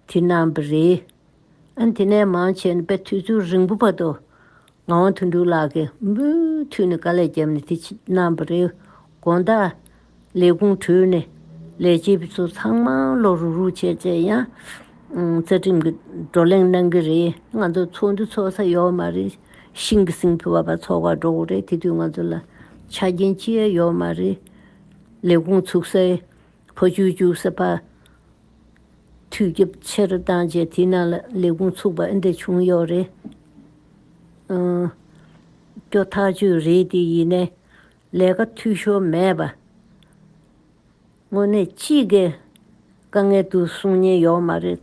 དེ་རྣམས་པ་རེད། ཨ་དེ་ནས་མང་ཆེ་ནི་དཔེ་ཐོས་ཚུལ་རིང་པོ་བར་དུ། ངག་དབང་དོན་གྲུབ་ལགས་ཀྱིས་མུ་མཐུད་ནས་དཀའ་ལས་བརྒྱབ་ནས་དེ་རྣམས་པ་རེད། དགོན་བདག། ལས་ཁུངས་དྲུང་ནས། ལས་བྱེད་པ་ཚོ་ཚང་མ་ལོག་རུག་རུག་བྱས་བྱས་ཡང། རྩ་ཁྲིམས་ཀྱི་བགྲོ་གླེང་གནང་གི་རེད། ང་ཚོ་ཚོགས་འདུ་ཚོགས་ས་ཡོད་མ་རེད། ཤིང་གི་སེང་ཕུ་བ་བ་ཚོགས་པ་འགྲོ་གི་རེད་དེ་དུས་ང་ཚོ་ལ། ཆ་རྐྱེན་ཅི་ཡང་ཡོད་མ་རེད། ལས་ཁུངས་ཚུགས་སའི། བུ་བཅུ་བཅུ་ཟེར་པ། དུས་བསྐྱབ་ཕྱིར་བཏང་རྗེས་དེ་རྣམས་ལ་ལས་ཁུངས་ཚུགས་པ་འདི་བྱུང་ཡོད་རེད། སྐྱོ་ཐག་ཆོད་རེད་དེ་ཡིན་ནས་ལས་ཀ་འཐུས་ཤོར་མེད་པ། དངོས་གནས་ཅི་དགའི་དཀའ་ངལ་དུ་གསུང་ཉེན་ཡོད་མ་རེད།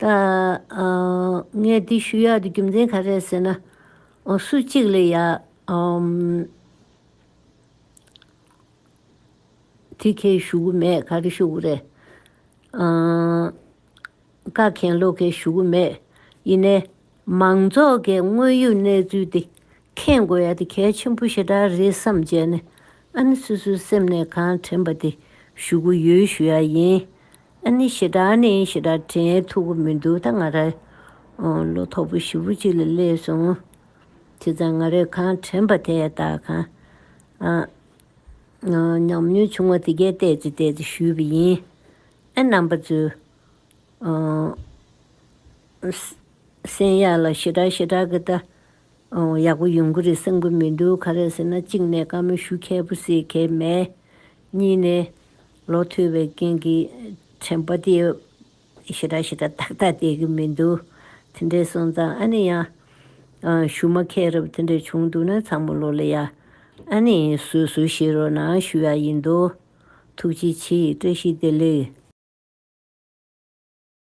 ད། ངས་འདི་ཞུ་ཡག་འདི་རྒྱུ་མཚན་ག་རེད་ཟེར་ན། སུ་གཅིག་ལས་ཡག། དེ་ཁས་ཞུ་གི་མེད་ག་རེ་ཞུ་གི་རེད། བཀའ་མཁན་བློ་མཁན་ཞུ་གི་མེད། ཡིན་ནའི། མང་ཚོགས་ཀྱི་དངོས་ཡོད་གནས་ཚུལ་དེ་མཁྱེན་དགོས་ཡ་དེ་གལ་ཆེན་པོ་ཞེ་དྲག་རེད་བསམ་བྱས་ནས་ཨ་ནི་སོ་སོའི་སེམས་ནས་གང་དྲན་པ་དེ་ཞུ་གི་ཡོད་ཞུ་ཡ་ཡིན། ཨ་ནི་ཞེ་དྲག་ནི་ཞེ་དྲག་དྲན་ཐུབ་གི་མི་འདུག་ད་ང་རང་ལོ་ཐོག་པོ་བཞི་བོ་གཅིག་ལ་སླེབས་སོང། དེ་ཙང་ང་རས་གང་དྲན་པ་དེ་ད་གང་ཉམས་མྱོང་བྱུང་བ་དེ་གས་བལྟས་ཏེ་བལྟས་ཏེ་ཞུས་པ་ཡིན། ཨ་རྣམ་པ་ཚོས་སེམས་ཡག་ལ་ཞེ་དྲག་ཞེ་དྲག་གི་ལྟ། ཡག་པོ་ཡོང་གི་རེད་བསམ་གི་མི་འདུག་ག་རེད་ཟེར་ན་གཅིག་ནས་བཀའ་མོལ་ཞུ་མཁས་པོ་སེ་མཁས་མེད། གཉིས་ནས་ལོ་ཐོས་པའི་རྐྱེན་གྱིས་དྲན་པ་དེ་ཞེ་དྲག་ཞེ་དྲག་ཏག་ཏག་བསྡད་གི་མི་འདུག་དེ་འདྲའི་སོང་ཙང་ཨ་ནི་ཡང། ཞུ་མ་མཁས་རབས་དེ་འདྲ་བྱུང་འདུག་ན་ཚང་མ་ལོ་ལེ་ཡ། ཨ་ནི་བཟོད་གསོལ་ཞུས་རོགས་གནང་ཞུ་ཡ་ཡིན་འདུག། ཐུགས་རྗེ་ཆེའི་བཀྲ་ཤིས་བདེ་ལེགས།